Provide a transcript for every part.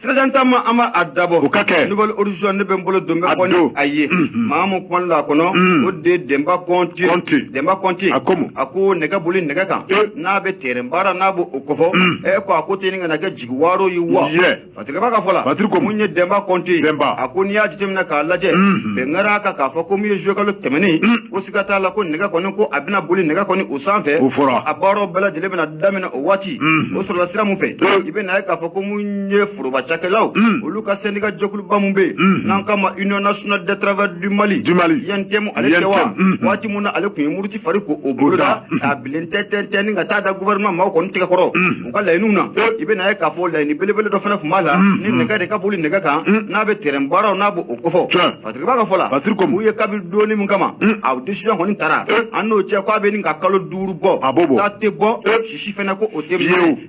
Sirajan taama an b'a dabɔ nouvel horizon ne bɛ n bolo don bɔ a ye maa min kuma la a kɔnɔ o de denba kɔnte denba kɔnte a ko a ko nɛgɛ boli nɛgɛ kan n'a bɛ tɛrɛn baara n'a b'o kofɔ ɛ ko a ko tɛ ɲini ka na kɛ jigiwaaro ye wa fatirikɛba ka fɔ la mun ye denba kɔnte denba a ko n'i y'a jate minɛ k'a lajɛ bɛn kɛra a kan k'a fɔ ko min ye juillet kalo tɛmɛnen o siga t'a la ko nɛgɛ kɔni ko a bɛna boli nɛgɛ kɔni o sanfɛ o fɔra a baaraw bɛɛ lajɛlen bɛna daminɛ o waati o sɔrɔla sira mun fɛ i bɛ n'a ye k'a fɔ ko mun ye foroba cakɛlaw olu ka sɛndika jɛkuluba mun bɛ yen n'an k'a ma union nationale des travailleurs du mali du mali UNTM ale kɛ wa waati mun na ale kun ye muruti fari ko o boloda k'a bilen tɛntɛntɛn ni ka taa da gouvernement maaw kɔni tɛgɛ kɔrɔ u ka laɲiniw na i bɛ n'a ye k'a fɔ laɲini belebele dɔ fana kun b'a la ni nɛgɛ de ka boli nɛgɛ kan n'a bɛ terɛn baaraw n'a b'o kofɔ fatirikɛba ka fɔ la u ye kabi don min kama a decision kɔni tara an n'o cɛ k'a bɛ ɲini ka kalo duuru bɔ a b'o bɔ taa tɛ bɔ si fana ko o tɛ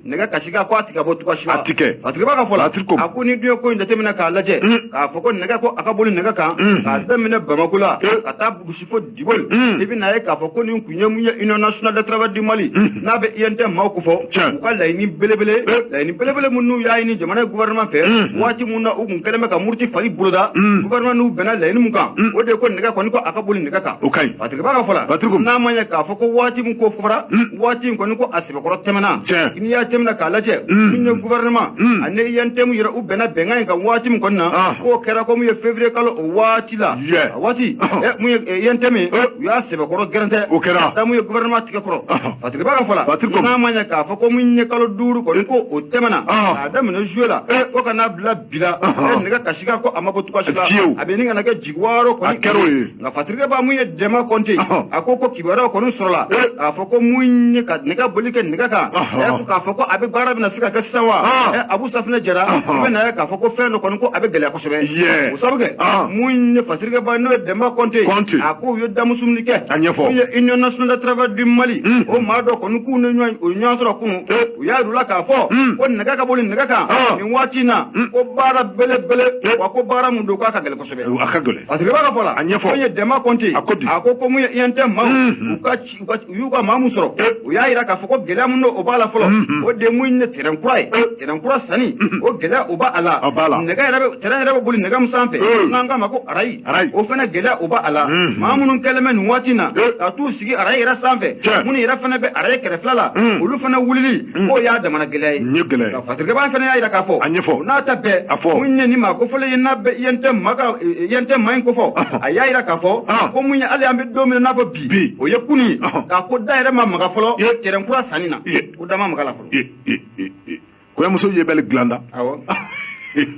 nɛgɛ kasikan ko a tɛ ka bɔ cogoya si fatirikɛba ka fɔ la a ko n'i dun ye ko in jateminɛ k'a lajɛ mm. k'a fɔ ko nɛgɛ ko a ka boli nɛgɛ kan mm. k'a daminɛ bamako la mm. ka taa bugusi fo diboli i bɛ n'a ye k'a fɔ ko nin kun ye mun ye union nationale de travail du mali n'a bɛ UNTM maaw kofɔ u ka laɲini belebele laɲini belebele min n'u y'a ɲini jamana gouvernement fɛ waati min na u kun kɛlen bɛ ka muruti fari boloda gouvernement n'u bɛnna laɲini min kan o de ye ko nɛgɛ kɔni ko a ka boli nɛgɛ kan o ka ɲi fatirikɛba ka fɔ la n'a ma ɲɛ k'a fɔ ko waati min ko fɔra waati in kɔni ko a sɛbɛkɔrɔ tɛmɛna Tiɲɛ. n'i y'a jateminɛ k'a lajɛ min ye gouvernement ani UNTM yɛrɛ u bɛnna bɛnkan in kan waati min kɔni na Ah. k'o kɛra ko min ye février kalo o waati la Yeah. a waati eh, mun ye eh, UNTM ye Eh. u y'a sɛbɛkɔrɔ gɛrɛntɛ O kɛra. k'a da mun ye gouvernement tɛgɛ kɔrɔ Fatirikɛba ka fɔ la Fatigi ko- n'a ma ɲɛ k'a fɔ ko min ye kalo duuru kɔni ko o tɛmɛna Ah. k'a daminɛ juillet la Eh. fo ka n'a bila bi la Eh, nɛgɛ kasikan ko a ma bɔ cogoya si la Fiyewu. a bɛ ɲini ka na kɛ jigiwaaro kɔni a kɛra o ye nka fatirikɛba mun ye denba kɔnte a ko ko kibaruyaw kɔni sɔrɔla k'a fɔ ko mun ye ka nɛgɛ boli kɛ nɛgɛ kan ɛ k'a fɔ ko a bɛ baara bɛna se ka kɛ sisan wa ɛ abu safinɛ jara i bɛ n'a ye k'a fɔ ko fɛn dɔ kɔni ko a bɛ gɛlɛya kosɛbɛ o sabu kɛ mun ye fatirikɛba n'o ye denba kɔnte a ko u ye damusu min kɛ a ɲɛfɔ mun ye union nationale de travail du mali o maa dɔ kɔni k'u n'o ɲɔgɔn sɔrɔ kun u y'a yir'u la k'a fɔ ko nɛgɛ ka boli nɛgɛ kan nin waati in na ko baara belebele wa ko baara mun don k'a ka gɛlɛn kosɛbɛ u a ka gɛlɛn fatirikɛba ka fɔ la a ɲɛfɔ mun ye denba kɔnte a ko di a ko ko mun ye UNTM maaw u ka ci- u ka ci- u y'u ka maa mun sɔrɔ u y'a yira k'a fɔ ko gɛlɛya mun don o b'a la fɔlɔ o de ye mun ye terɛn kura ye terɛn kura sanni o gɛlɛya o b'a a la A b'a la. nɛgɛ yɛrɛ bɛ terɛn yɛrɛ bɛ boli nɛgɛ min sanfɛ Eh. n'an k'a ma ko arayi Arayi. o fana gɛlɛya o b'a a la Mhm. maa minnu kɛlen bɛ nin waati in na Eh. ka t'u sigi arayi yɛrɛ sanfɛ Tiɲɛ. minnu yɛrɛ fana bɛ arayi kɛrɛfɛla la olu fana wulili k'o y'a damana gɛlɛya ye Nin ye gɛlɛya ye. fatirikɛba fana y'a jira k'a fɔ a ɲɛfɔ n'a ta bɛɛ a fɔ mun ye nin maa kofɔlen ye n'a bɛ INT maa in kofɔ a y'a jira k'a fɔ ko mun ye hali an bɛ don min n'a fɔ bi bi o ye kun ye k'a ko da yɛrɛ ma maga fɔlɔ tɛrɛn kura sanni na ko da ma maga la fɔlɔ kɔɲɔmuso yebali dilan da awɔ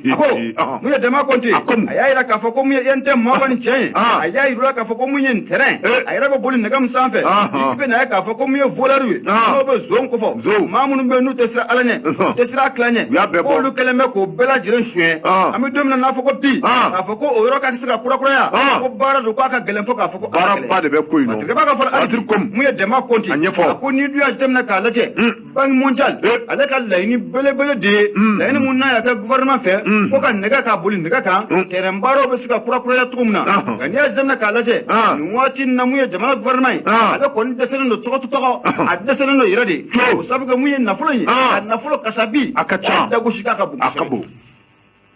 a ko mun ye Denba Kɔnte a y'a jira k'a fɔ ko mun ye INT mɔgɔ nin cɛ ye a y'a jira k'a fɔ ko mun ye tɛrɛn a yɛrɛ bɛ boli nɛgɛ min sanfɛ i bɛ na ye k'a fɔ ko mun ye volɛriw ye n'o bɛ zon kofɔ maa minnu bɛ yen n'u tɛ siran ala ɲɛ u tɛ siran kira ɲɛ k'olu kɛlen bɛ k'o bɛɛ lajɛlen suɲɛ an bɛ don min na n'a fɔ ko bi k'a fɔ ko o yɔrɔ ka se ka kurakuraya ko baara don k'a ka gɛlɛn fo k'a fɔ ko baaraba de bɛ ko in na ka fɔ mun ye Denba Kɔnte a ko n'i dun y'a jateminɛ k'a lajɛ Banque mondiale ale ka laɲini belebele de ye laɲini mun n'a y'a kɛ gouvernement fɛ ko ka nɛgɛ ka boli nɛgɛ kan tɛrɛn baaraw bɛ se ka kurakuraya cogo min na nka n'i y'a jateminɛ k'a lajɛ nin waati na mun ye jamana gouvernement ye ale kɔni dɛsɛlen don cogo o cogo a dɛsɛlen don yɛrɛ de o sabu kɛ mun ye nafolo ye a nafolo kasabi a ka ca dagosi k'a ka bon kosɛbɛ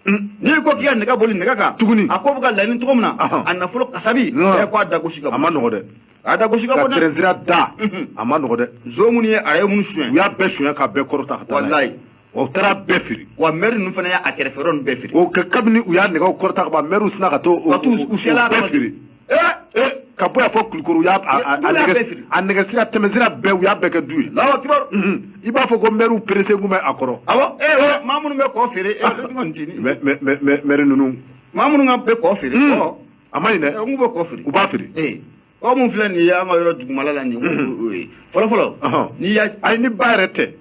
n'i ko k'i ka nɛgɛ boli nɛgɛ kan tuguni a ko bɛ ka laɲini cogo min na a nafolo kasabi ɛ ko a dagosi ka bon a man nɔgɔn dɛ a dagosi ka bon dɛ tɛrɛnsira da a man nɔgɔn dɛ zon minnu ye arayi minnu suɲɛ u y'a bɛɛ suɲɛ k'a bɛɛ kɔrɔta ka taa n'a ye u taara a bɛɛ feere wa mɛri ninnu fana y'a kɛrɛfɛ yɔrɔ ninnu bɛɛ feere o kɛ kabini u y'a nɛgɛw kɔrɔta ka ban mɛriw sinna ka to ka t'u u siyɛla bɛɛ feere ka bɔ yan fo Kulikɔrɔ u y'a a nɛgɛsira tɛmɛsira bɛɛ u y'a bɛɛ kɛ du ye i b'a fɔ ko mɛriw pressé kun bɛ a kɔrɔ awɔ e maa minnu bɛ kɔ feere e kɔni tɛ nin mɛri ninnu maa minnu ka bɛ kɔ feere a man ɲi dɛ n k'u bɛ kɔ feere u b'a feere kɔ min filɛ nin ye an ka yɔrɔ dugumala la nin ye o ye fɔlɔfɔlɔ n'i y'a ayi ni ba yɛrɛ tɛ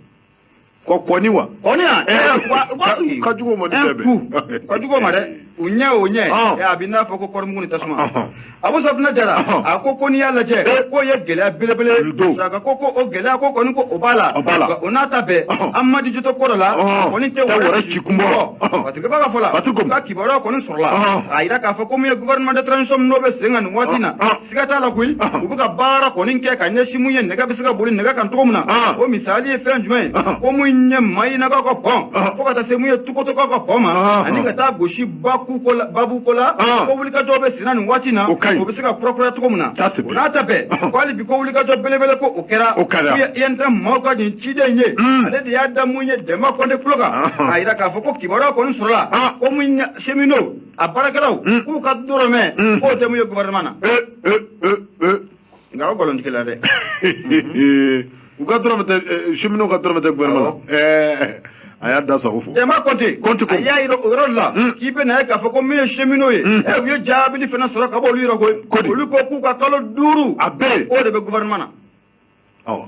Ko kɔni wa kɔni wa eh, ka jugu ma eh, tɛ ka jugu ma dɛ u ɲɛ o ɲɛ ah. eh, a bɛ n'a fɔ ko kɔɔrimugu ni tasuma ah, ah. Abu Safinɛ Jara a ko ko n'i y'a lajɛ k'o ye gɛlɛya belebele don saka ko ko o gɛlɛya ko kɔni ko o b'a la o n'a ta bɛɛ an ma dijitɔ kɔrɔ la kɔni tɛ wɛrɛ ci kun bɔ batigɛba ka fɔ la ko kibaruya kɔni sɔrɔla a y'a jira k'a fɔ ko min ye gouvernement de transition n'o bɛ sen kan nin waati in na siga t'a la koyi u bɛ ka baara kɔni kɛ ka ɲɛsin mun ye nɛgɛ bɛ se ka boli nɛgɛ kan cogo min na o misali ye fɛn jumɛn ye ko mun ye Mayinakaw ka pɔn fo ka taa se mun ye Tukotokaw ka pɔn ma ani ka taa gosi babu ko la babu ko la ko wulikajɔ bɛ senna nin waati na o bɛ se ka kurakuraya cogo min na o n'a ta bɛɛ ko hali bi ko wulikajɔ belebele ko o kɛra o ye INT maaw ka nin ciden ye ale de y'a da mun ye Denba Kɔnte tulo kan k'a jira k'a fɔ ko kibaruya kɔni sɔrɔla ko mun ye cheminot a baarakɛlaw hmm. k'u ka dɔrɔmɛ hmm. k'o tɛ mun ye gouvernement na eh, eh, eh, nka o nkalon tigɛla dɛ u ka dɔrɔmɛ tɛ cheminot ka dɔrɔmɛ tɛ gouvernement a y'a da sago fo Denba Kɔnte ko a y'a yira o yɔrɔ de la hmm. k'i bɛ na ye k'a fɔ ko min ye cheminot ye ɛ u ye jaabili fana sɔrɔ ka bɔ olu yɔrɔ koyi olu ko k'u ka kalo duuru a bɛɛ o de bɛ gouvernement na awɔ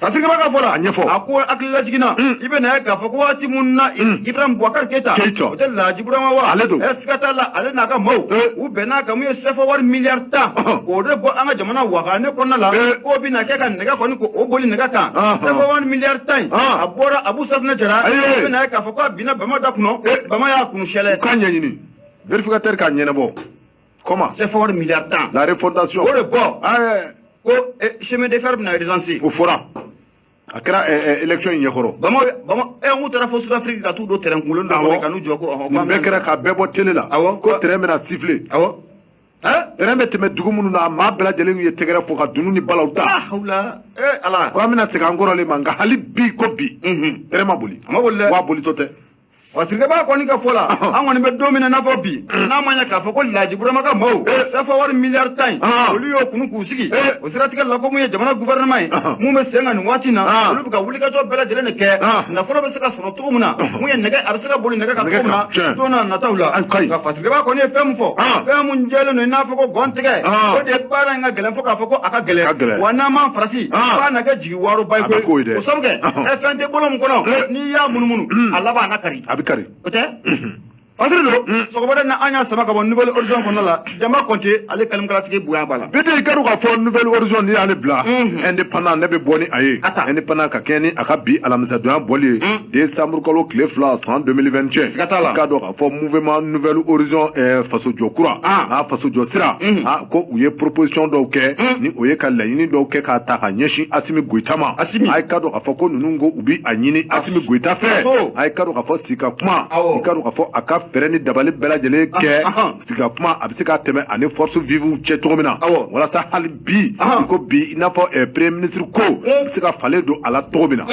fasirikɛba ka fɔ la, a ɲɛfɔ, a ko hakili lajiginna, un, i bɛna ye k'a fɔ ko waati minnu na, un, Ibrahim Boubacar Keita, Keita, o tɛ Laji Burama wa, ale don, ɛ siga t'a la ale n'a ka maaw, e, u bɛn'a kan mun ye sɛfɔ wari miliyari tan, k'o de bɔ an ka jamana wagane kɔnɔna la, e, k'o bɛna kɛ ka nɛgɛ kɔni k'o boli nɛgɛ kan, sɛfɔ wari miliyari tan in, a bɔra Abu Safinɛ Jara, i bɛna ye k'a fɔ k'a binna bama da kɔnɔ, e, bama y'a kunu sɛlɛ, u k'a ɲɛɲini, vérificateur k'a ɲɛnabɔ. Comment sɛfɔ wari miliyari tan. La refondation. o de bɔ. Ah, ko eh, chemin de fer bɛna urgence o fɔra a kɛra eh, eh, élection in ɲɛkɔrɔ bama bama ɛ n ko taara fo sud afrique ka t'u don train kunkolo dɔ kɔnɔ ka n'u jɔ ko ɔhɔn nin bɛɛ kɛra ka bɛɛ bɔ télé la awɔ ko train bɛna siffler awɔ train bɛ tɛmɛ dugu minnu na a maa bɛɛ lajɛlen ye tɛgɛrɛ fɔ ka dunu ni balaw ta ah, hawla ee ala ko an bɛna segin an kɔrɔlen ma nka hali bi ko bi train ma boli a ma boli dɛ wa bolitɔ tɛ fasirikɛba kɔni ka fɔ la an kɔni bɛ don min na n'a fɔ bi n'a ma ɲɛ k'a fɔ ko laji burama ka maaw sɛfɔ wari miliyari tan in olu y'o kunu k'u sigi o siratigɛ la ko mun ye jamana guvɛrɛnɛma ye mun bɛ sen kan nin waati in na olu bɛ ka wulikajɔ bɛɛ lajɛlen de kɛ nafolo bɛ se ka sɔrɔ cogo min na mun ye nɛgɛ a bɛ se ka boli nɛgɛ kan cogo min na don na nataw la nka fasirikɛba kɔni ye fɛn min fɔ fɛn min jɛlen don i n'a fɔ ko gɔn tigɛ o de ye baara in ka gɛlɛn fo k'a fɔ ko a ka gɛlɛn wa n'an m'an farati f'a na kɛ jigi waro ba ko ko dɛ o sabu kɛ ɛ fɛn tɛ bolo min kɔnɔ n'i y'a munumunu a laban a na kari a bɛ kari o tɛ fasiri don sɔgɔmada na an y'a sama ka bɔ nouvel horizon kɔnɔna la Demba Konte ale kalimukalatigi bonya b'a la bi tɛ i ka dɔn k'a fɔ nouvel horizon n'i y'ale bila indépendant ne bɛ bɔ ni a ye indépendant ka kɛɲɛ ni a ka bi alamisadonya bɔli ye décembre kalo tile fila san 2021 siga t'a la i k'a dɔn fɔ mouvement nouvel horizon eh, faso jɔ kura a faso jɔ sira a ko u ye proposition dɔw kɛ ni o ye ka laɲini dɔw kɛ k'a ta ka ɲɛsin asimi goyita ma a ye ka dɔn k'a fɔ ko ninnu ko u bi a ɲini asimi goyita fɛ a ye ka dɔn k'a fɔ sigi ka kuma i ka dɔn k'a fɔ a ka fɛɛrɛ ni dabali bɛɛ lajɛlen kɛ sigi ka kuma a bɛ se ka tɛmɛ ani force vivew cɛ cogo min na walasa hali bi i ko bi i n'a fɔ eh, premier ministre ko bɛ se ka falen don a la cogo min na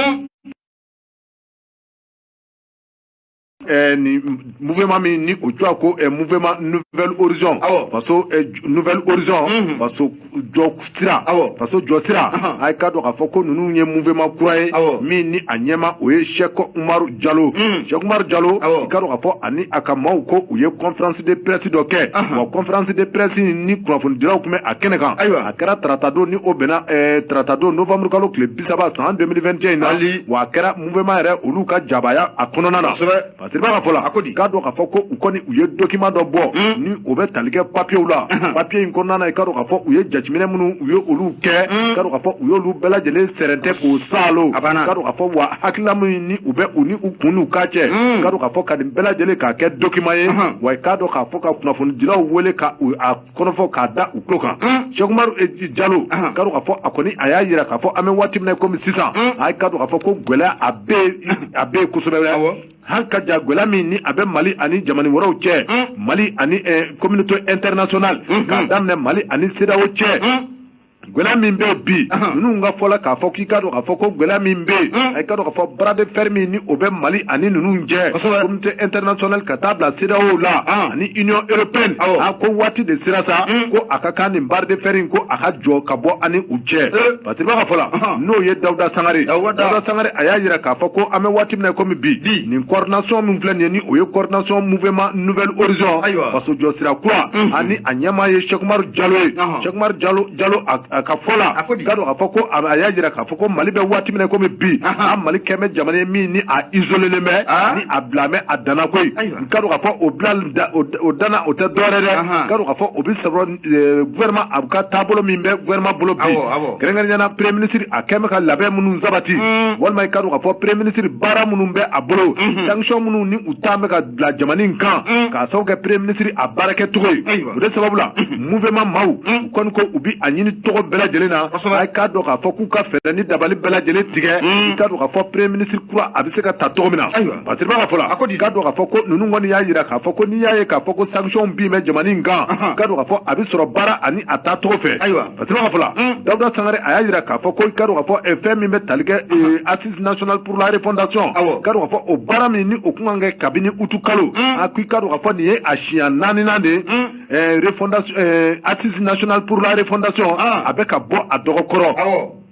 Eh, nin mouvement min ni o tɔgɔ ko eh, mouvement nouvel horizon awɔ faso eh, nouvel horizon mhm. faso jɔ sira awɔ faso jɔ sira a ye ka dɔn k'a fɔ ko ninnu ye mouvement kura ye awɔ min ni a ɲɛmaa o ye sɛk umaru jalo mhm. sɛk umaru jalo awɔ i ka dɔn k'a fɔ ani a ka maaw ko u ye conférence de presse dɔ kɛ wa conférence de presse ni kunnafonidilaw tun bɛ a kɛnɛ kan ayiwa a kɛra taratadon ni o bɛnna taratadon novembre kalo tile bi saba san 2021 in na wa a kɛra mouvement yɛrɛ olu ka jabaya a kɔnɔna na fasirikɛba ka fɔ la k'a dɔn k'a fɔ ko u kɔni u ye document dɔ bɔ hmm. ni o bɛ tali kɛ papiyew la hmm. papiye in kɔnɔna na i ka dɔn k'a fɔ u ye jateminɛ minnu u ye olu kɛ hmm. i ka dɔn k'a fɔ u y'olu bɛɛ lajɛlen sɛrɛntɛ k'o saalo i ka dɔn k'a fɔ wa hakilila min ni u bɛ u ni u kun n'u kan cɛ i ka dɔn k'a fɔ ka nin bɛɛ lajɛlen k'a kɛ document ye wa i k'a dɔn k'a fɔ ka kunnafonidilaw wele ka u a kɔnɔ fɔ k'a da u tulo kan sɛkumaru eh, jalo ka dɔn k'a fɔ a kɔni a y'a jira k'a fɔ an bɛ waati min na komi sisan a ka dɔn k'a fɔ ko gɛlɛya a bɛ a bɛ yen kosɛbɛ hali ka ja gɛlɛya min ni a bɛ mali ani jamana wɛrɛw cɛ mali ani communauté internationale k'a daminɛ mali ani CEDEAO cɛ gwɛlɛya min bɛ bi ninnu ka fɔ la k'a fɔ k'i ka dɔn k'a fɔ ko gwɛlɛya min bɛ yen a ka dɔn k'a fɔ bras de fer min ni o bɛ mali ani ninnu cɛ communauté internationale ka taa bila CEDEAO la ani union européenne a ko waati de sera sa ko a ka kan nin bras de fer in ko a ka jɔ ka bɔ ani u cɛ parce que i b'a ka fɔ la n'o ye dawuda sangare dawuda sangare a y'a jira k'a fɔ ko an bɛ waati min na komi bi nin coordination min filɛ nin ye ni o ye coordination mouvement nouvel horizon faso jɔ sira kura ani a ɲɛmaa ye sɛkumaru jalo ye Sɛkumaru jalo a ka fɔ la ka dɔn ka fɔ ko a y'a jira k'a fɔ ko mali bɛ waati min na komi bi a mali kɛlen bɛ jamana min ni a izolelen bɛ ni a bilalen bɛ a dan na koyi ka dɔn ka fɔ o dan na o tɛ dɔwɛrɛ dɛ ka dɔn ka fɔ o bɛ sɔrɔ gouvernement a ka taabolo min bɛ gouvernement bolo bi kɛrɛnkɛrɛnnenya na premier ministre a kɛlen bɛ ka labɛn minnu sabati walima i ka dɔn ka fɔ premier ministre baara minnu bɛ a bolo sanction minnu ni u talen bɛ ka bila jamana in kan mm. k'a sababu kɛ premier ministre a baarakɛcogo ye o de sababu la mm-hmm. mouvement maaw mm. u kɔni ko u bi a ɲini cogo bɛɛ lajɛlen na a k'a dɔn k'a fɔ k'u ka fɛɛrɛ ni dabali bɛɛ lajɛlen tigɛ i k'a dɔn k'a fɔ premier ministre kura a bɛ se ka ta cogo min na parce que b'a fɔ la i k'a dɔn k'a fɔ ko ninnu kɔni y'a jira k'a fɔ ko n'i y'a ye k'a fɔ ko sanction binnen bɛ jamana in kan i k'a dɔn k'a fɔ a bɛ sɔrɔ baara ani a taacogo fɛ parce que b'a fɔ la dawuda sangare a y'a jira k'a fɔ ko i k'a dɔn k'a fɔ eh, fɛn min bɛ tali kɛ eh, national pour la refondation awɔ ka dɔn ka fɔ o baara min ni o kun kan kɛ kabini uti kalo mm. a ko i ka dɔn ka fɔ nin ye a siɲɛ naaninan de ye mm. eh, refondation eh, assise national pour la refondation ah. a bɛ ka bɔ a dɔgɔ kɔrɔ awɔ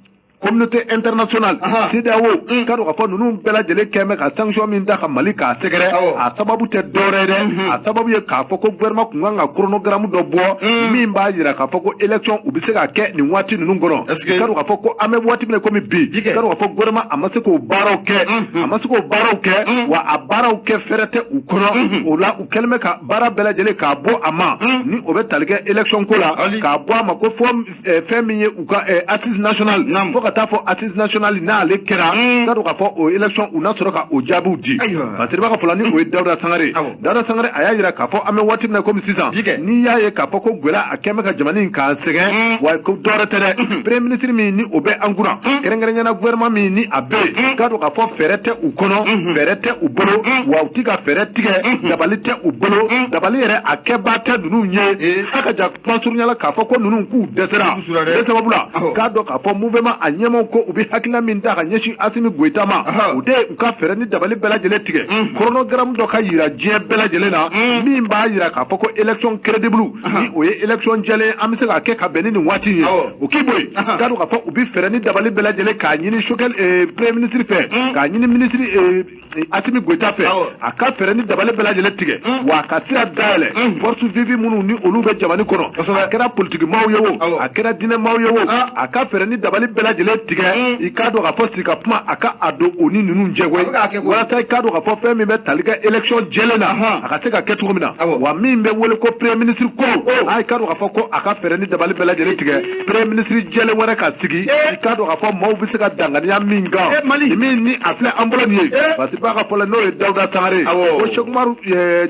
communauté internationale CEDEAO mm. ka dɔn ka fɔ ninnu bɛɛ lajɛlen kɛlen bɛ ka sanction min da ka Mali k'a sɛgɛrɛ a sababu tɛ dɔwɛrɛ dɛ mm-hmm. a sababu ye k'a fɔ ko gouvernement kun kan ka chronogramme dɔ bɔ mm. min b'a jira k'a fɔ ko élection u bɛ se ka kɛ nin waati ninnu kɔnɔ ka dɔn ka fɔ ko an bɛ waati min na komi bi ka dɔn ka fɔ gouvernement a ma se k'o baaraw kɛ a ma se k'o baaraw kɛ wa a baaraw kɛ fɛɛrɛ tɛ u kɔnɔ o la u kɛlen bɛ ka baara bɛɛ lajɛlen k'a bɔ a ma ni o bɛ tali kɛ election ko la k'a bɔ a ma ko fo fɛn min ye u ka assise national fo ka taa fɔ assise national n'ale kɛra ka dɔn k'a fɔ o election u na sɔrɔ ka o jaabiw di parce que b'a ka fɔ la ni o ye dawuda sangare Dawuda Sangare a y'a jira k'a fɔ an bɛ waati min na komi sisan n'i y'a ye k'a fɔ ko gɛlɛya a kɛlen bɛ ka jamana in k'an sɛgɛn mm. wa ko dɔwɛrɛ tɛ dɛ mm-hmm. premier ministre min ni o bɛ an kunna mm. kɛrɛnkɛrɛnnenya na gouvernement min ni a bɛ yen mm. k'a dɔn k'a fɔ fɛɛrɛ tɛ u kɔnɔ mm-hmm. fɛɛrɛ tɛ u bolo wa u ti ka fɛɛrɛ tigɛ mm-hmm. dabali tɛ u bolo dabali yɛrɛ a kɛbaa tɛ ninnu ye a ka kuma surunyala k'a fɔ ko ninnu k'u dɛsɛra de sababu la k'a dɔn k'a fɔ mouvement a ɲɛmaaw ko u bɛ hakilina min da ka ɲɛsin asimi goyita ma u de u ka fɛɛrɛ ni dabali bɛɛ lajɛlen tigɛ chronogramme dɔ ka yira diɲɛ bɛɛ lajɛlen na min b'a yira k'a fɔ ko election crédible ni o ye election jɛlen an bɛ se k'a kɛ ka bɛn ni nin waati ye o k'i bɔ yen k'a dɔn k'a fɔ u bɛ fɛɛrɛ ni dabali bɛɛ lajɛlen k'a ɲini sogɛli eh, premier ministre fɛ k'a ɲini ministre eh, Asimi Goita fɛ a ka fɛɛrɛ ni dabali bɛɛ lajɛlen tigɛ mm. wa a ka sira dayɛlɛ mm. forces vives minnu ni olu bɛ jamana kɔnɔ a kɛra politiki maaw ye o a kɛra diinɛ maaw ye o ah. a ka fɛɛrɛ ni dabali bɛɛ lajɛlen tigɛ mm. i k'a dɔn k'a fɔ sigi ka kuma a ka a don o ni ninnu cɛ koyi walasa i k'a dɔn k'a fɔ fɛn min bɛ tali kɛ élection jɛlen na a ka se ka kɛ cogo min na wa min bɛ wele ko premier ministre ko i k'a dɔn k'a fɔ ko a ka fɛɛrɛ ni dabali bɛɛ lajɛlen tigɛ premier ministre jɛlen wɛrɛ ka sigi i k'a dɔn k'a fɔ maaw bɛ se ka danganiya min kan min ni a filɛ an bolo nin ye parce que b'a ka fɔ la n'o ye dawuda sangare o sɛki umaru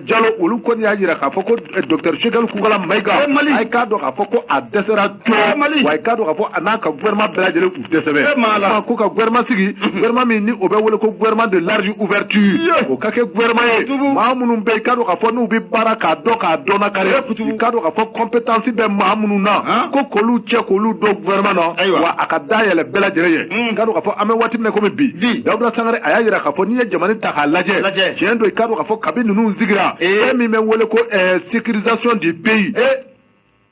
jalo olu kɔni y'a jira k'a fɔ ko docteur sogɛli kokala mayiga a ye k'a dɔn k'a fɔ ko a dɛsɛra cɔ wa a ye k'a dɔn k'a fɔ a n'a ka gouvernement bɛɛ lajɛlen ko ka gouvernement sigi gouvernement min ni o bɛ wele ko gouvernement de large ouverture o ka kɛ gouvernement ye maa minnu bɛ k'a dɔn k'a fɔ n'u bɛ baara k'a dɔn k'a dɔn kari k'a dɔn k'a fɔ compétence bɛ maa minnu na ko k'olu cɛ k'olu don gouvernement na wa a ka da yɛlɛ bɛɛ lajɛlen ye mm. k'a dɔn k'a fɔ an bɛ waati min kɔmi bi dawuda sangare a y'a jira k'a fɔ n'i ye jamana ta k'a lajɛ tiɲɛ don i k'a dɔn k'a fɔ kabi ninnu sigira e min bɛ wele ko sécurisation du pays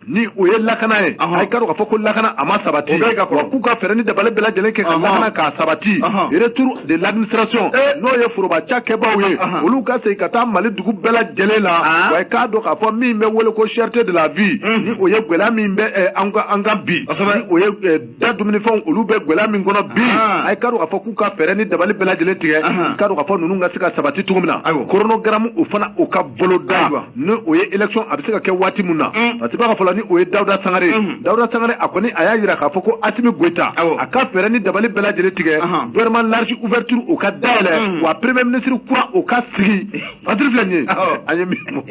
ni o ye lakana ye a ye k'a dɔn k'a fɔ ko lakana a ma sabati wa k'u ka fɛɛrɛ ni dabali bɛɛ lajɛlen kɛ ka lakana k'a sabati retour de l'administration eh. n'o ye foroba cakɛbaaw ye olu ka segin ka taa mali dugu bɛɛ lajɛlen la ah. wa k'a dɔn k'a fɔ min bɛ wele ko cherté de la vie hmm. ni o ye gwɛlɛya min bɛ eh, an kan bi o ye eh, da dumunifɛnw olu bɛ gwɛlɛya min kɔnɔ bi a ye k'a dɔn k'a fɔ k'u ka fɛɛrɛ ni dabali bɛɛ lajɛlen tigɛ i k'a dɔn k'a fɔ ninnu ka se ka sabati cogo min na chronogramme o fana o ka boloda ni o ye election a bɛ se ka kɛ waati min na parce que b'a ka fɔ la ni o ye dawuda sangare dawuda sangare a kɔni a y'a jira k'a fɔ ko asimi goyita a ka fɛɛrɛ ni dabali bɛɛ lajɛlen tigɛ gouvernement large ouverture o ka dayɛlɛ wa premier ministre kura o ka sigi fatiri filɛ nin ye an ye min fɔ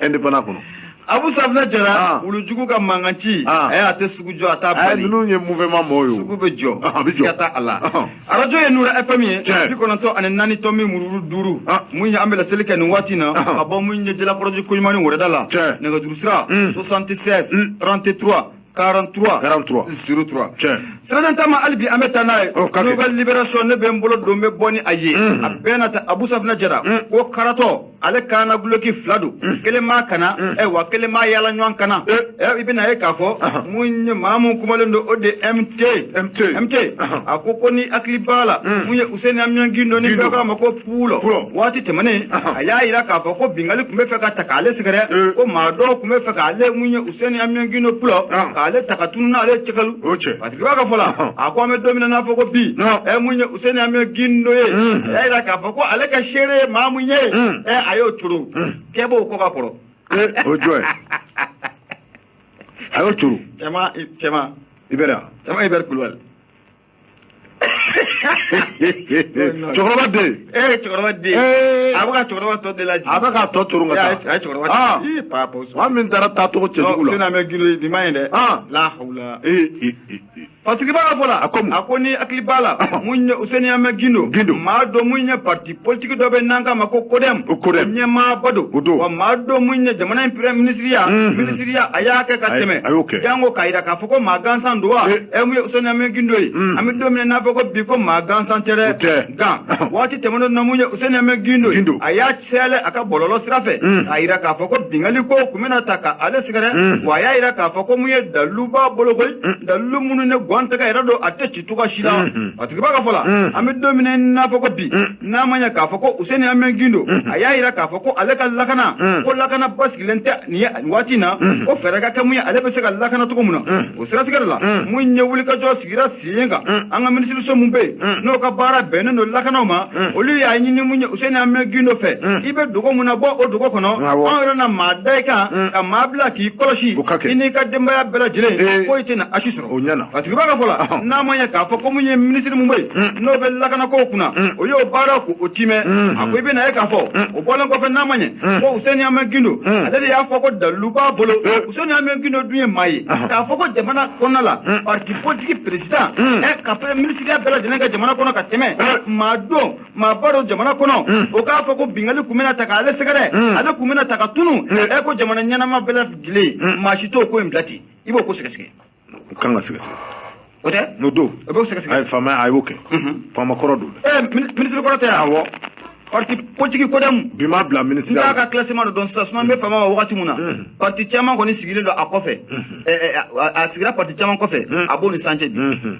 indépendant kɔnɔ abu safinɛ jara ah. wulujugu ka mankan ci ah. eh, a tɛ sugu jɔ a t'a eh, bali ninnu ye mouvement mɔgɔw ye sugu bɛ jɔ ah, siga t'a a la arajo ye nura fm ye bi kɔnɔntɔn ani naani tomi mururu duuru mun ye an bɛ laseli kɛ nin waati na ka bɔ mun ye jalakɔrɔji koɲumani wɛrɛda la nɛgɛjuru sira 76 33 43 43 03 tiɲɛ sirajɛ ta ma hali bi an bɛ taa n'a ye oh, nouvelle libération ne bɛ n bolo don n bɛ bɔ ni a ye mm-hmm. a bɛna ta abu safinɛ jara mm. ko karatɔ ale kan na dulɔki fila don mm. kelen b'a kan na mm. ɛ eh, wa kelen b'a yaalaɲɔgɔn kan na ɛ eh. eh, i bɛna ye k'a fɔ uh-huh. mun ye maa min kumalen don o de mt mt mt uh-huh. a ko ko ni hakili b'a la mun ye useni amiyɔn gindo ni bɛɛ k'a ma ko Pulɔ waati tɛmɛnen a y'a jira k'a fɔ ko bingali kun bɛ fɛ ka ta k'ale sɛgɛrɛ ko maa dɔw kun bɛ fɛ k'ale mun ye useni amiyɔn gindo pulɔ k'ale ta ka tunu n'ale cɛkali patigiba ka fɔ la a ko an bɛ don min na n'a fɔ ko bi ɛ mun ye useni amiyɔn gindo ye a y'a jira k'a fɔ ko ale ka seere ye maa mun ye ɛ a y'o turu kɛ b'o kɔ ka kɔrɔ o jɔn a y'o turu cɛ i bɛ i bɛ kulubali cɛkɔrɔba den e ye cɛkɔrɔba den ye a bɛ ka cɛkɔrɔba tɔ de lajigin a bɛ ka tɔ turu ka taa a ye cɛkɔrɔba aa ii paa pɔsɔn maa min taara taa cogo cɛjugu la useni amɛ gindo nin ma ɲi dɛ la hawula patigiba ka fɔ la a ko mun a ko n'i hakili b'a la mun ye useni amɛ gindo maa don mun ye parti politiki dɔ bɛ n'an k'a ma ko kodɛm ɲɛmaaba don wa maa don mun ye jamana in pere minisiriya minisiriya a y'a kɛ ka tɛmɛ janko k'a jira k'a fɔ ko maa gansan don wa ɛ mun ye useni amiyɔn gindo ye an bɛ don min na n'a fɔ ko bi ko maa gansan tɛ dɛ nka waati tɛmɛnen na mun ye useni amiyɔn gindo ye a y'a cɛlɛ a ka bɔlɔlɔ sira fɛ k'a jira k'a fɔ ko bingali ko kun bɛna ta ka ale sɛgɛrɛ wa a y'a jira k'a fɔ ko mun ye dalilu b'a bolo koyi dalilu minnu ne gɔn tɛgɛ yɛrɛ don a tɛ ci cogoya si la patigiba ka fɔ la an bɛ don min na n'a fɔ ko bi n'a ma ɲɛ k'a fɔ ko useni amɛn gindo a y'a jira k'a fɔ ko ale ka lakana ko lakana basigilen tɛ nin ye nin waati in na ko fɛɛrɛ ka kɛ mun ye ale bɛ se ka lakana cogo min na o siratigɛ de la mun ye wulikajɔ sigira sen kan an ka minisiriso min bɛ yen n'o ka baara bɛnnen don lakanaw ma olu y'a ɲini mun ye useni amɛn gindo fɛ i bɛ dogo min na bɔ o dogo kɔnɔ an yɛrɛ na maa da i kan ka maa bila k'i kɔlɔsi i n'i ka denbaya bɛɛ lajɛlen foyi tɛna a si sɔrɔ o ɲɛna a tigiba ka fɔ la n'a ma ɲɛ k'a fɔ ko mun ye minisiri mun bɛ yen n'o bɛ lakanako kunna o y'o baara ko o timɛ a ko i bɛna ye k'a fɔ o bɔlen kɔfɛ n'a ma ɲɛ ko useni amɛ gindo ale de y'a fɔ ko dalilu b'a bolo useni amɛ gindo dun ye maa ye k'a fɔ ko jamana kɔnɔna la parti politiki peresidan ɛ ka pere minisiriya bɛɛ lajɛlen kɛ jamana kɔnɔ ka tɛmɛ maa don maaba don jamana kɔnɔ o k'a fɔ ko bingali kun bɛna ta k'ale sɛgɛrɛ ale kun bɛna ta ka tunu ɛ ko jamana ɲɛnama bɛɛ lajɛlen maa si t'o ko in bila ten i b'o ko sɛgɛsɛgɛ u kan ka sɛgɛsɛgɛ o tɛ n'o don o b'o sɛgɛsɛgɛ ayi faama a y'o kɛ faama kɔrɔ don dɛ minisiri kɔrɔ tɛ awɔ parti politique kodɛmu bi ma bila minisiri n t'a ka classement dɔ dɔn sisan sinon n bɛ faama ma wagati min na parti caman kɔni sigilen don a kɔfɛ a sigira parti caman kɔfɛ a b'o ni sancɛ bi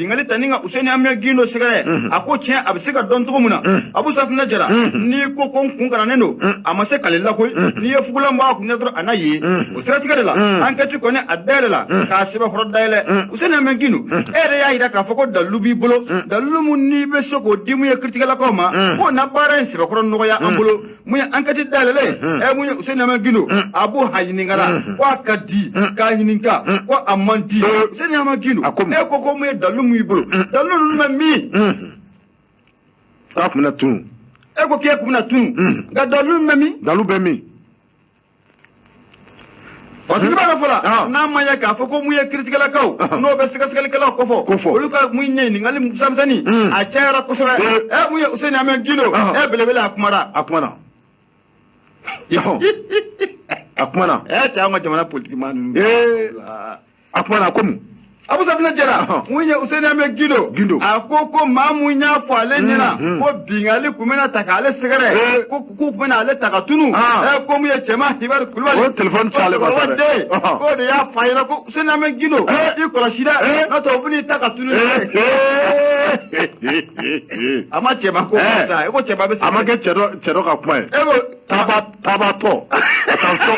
bingali tanen ka useni amɛ gindo sɛgɛrɛ mhm. a ko tiɲɛ a bɛ se ka dɔn cogo min na mhm. abu safinɛ jara mhm. n'i ko ko n kun karannen don a ma se k'ale lakoyi n'i ye fugulan bɔ a kun dɔrɔn a na ye o siratigɛ de la ankɛti kɔni a dayɛlɛ la k'a sɛbɛkɔrɔ dayɛlɛ useni amɛ gindo e yɛrɛ y'a jira k'a fɔ ko dalilu b'i bolo dalilu min n'i bɛ se k'o di mun ye kiritigɛlakaw ma k'o na baara in sɛbɛkɔrɔ nɔgɔya an bolo mun ye ankɛti dayɛlɛla ye ɛ mun ye useni amiyɔn gindo abu a ɲininkala ko a ka di k'a ɲininka ko a man di useni amiyɔn gindo A ko mun? e ko ko mun ye dalu mun y'i bolo dalu ninnu bɛ min k'a kun bɛna tunu e ko k'e kun bɛna tunu nka dalu min bɛ min dalu bɛ min Parce que b'a la fɔlɔ n'a ma ɲa k'a fɔ ko mun ye kiritigɛlakaw n'o bɛ sɛgɛsɛgɛlikɛlaw kofɔ olu ka mun ɲininkali misɛnmisɛnni a cayara kosɛbɛ ɛ mun ye Useni Amiyɔn Gindo ɛ belebele a kumara a kumana a kumana ɛ cɛ an ka jamana politikimaa ninnu a kumana ko mun abu safinɛ jara mun ye useni ame gindo a ko ko maa min y'a fɔ ale ɲɛna mm, mm. ko bingali kun bɛna ta k'ale sɛgɛrɛ eh. ko k'u kun bɛna ale ta ka tunu ah. eh, ko mun ye cɛman ibɛri kulubali ko telefɔni ci ale ma sa dɛ k'o de y'a f'a ɲɛna ko useni ame gindo eh. i kɔrɔsi dɛ n'o tɛ o bɛna i ta ka tunu a ma cɛman ko sa e ko cɛman bɛ sa a ma kɛ cɛ dɔ cɛ dɔ ka kuma ye e ko tabatɔ attention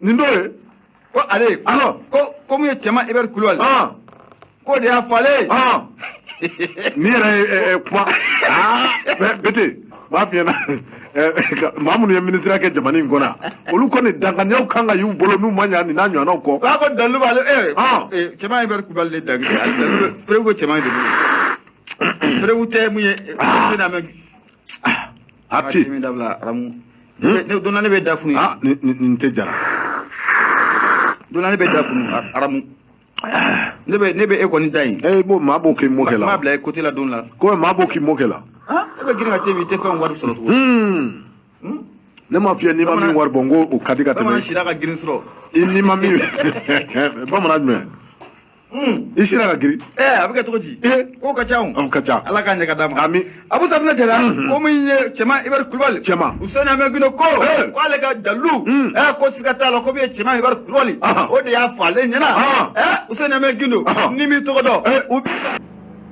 nin dɔ ye ko ale alors ko ko mun ye cɛman ibɛri kulubali k'o de y'a fɔ ale ye ne yɛrɛ kuma bɛɛ de b'a f'i ɲɛna maa minnu ye minisiriya kɛ jamana in kɔnɔ olu kɔni danganiyaw kan ka y'u bolo n'u ma ɲa nin n'a ɲɔgɔnnaw kɔ k'a ko dalu b'ale cɛman ibɛri kulubali de dangiri ale dalu preuve ko cɛman de bolo preuve tɛ mun ye useni amɛ a tɛ nin dabila aramu donna ne bɛ da funu ah nin tɛ jara donna ne bɛ da funu aramu ne bɛ ne bɛ e kɔni da yen ee b'o maa b'o k'i mɔkɛ la maa bila e côté la don la ko maa b'o k'i mɔkɛ la e bɛ girin ka te bi i tɛ fɛn wari sɔrɔ tugun ne m'a f'i ye n'i ma min wari bɔ n ko o ka di ka tɛmɛ bamanan sira ka girin sɔrɔ i n'i ma min bamanan jumɛn i sira ka girin ɛɛ a bɛ kɛ cogo di k'o ka ca o ka ca ala k'a ɲɛ ka d'a ma ami abu safinɛ jara ko mun ye cɛman ibɛri kulubali cɛman useni amɛ gindo ko k'ale ka dalu ɛɛ ko siga t'a la ko mun ye cɛman ibɛri kulubali o de y'a fɔ ale ɲɛna ɛɛ useni amɛ gindo n'i m'i tɔgɔ dɔn u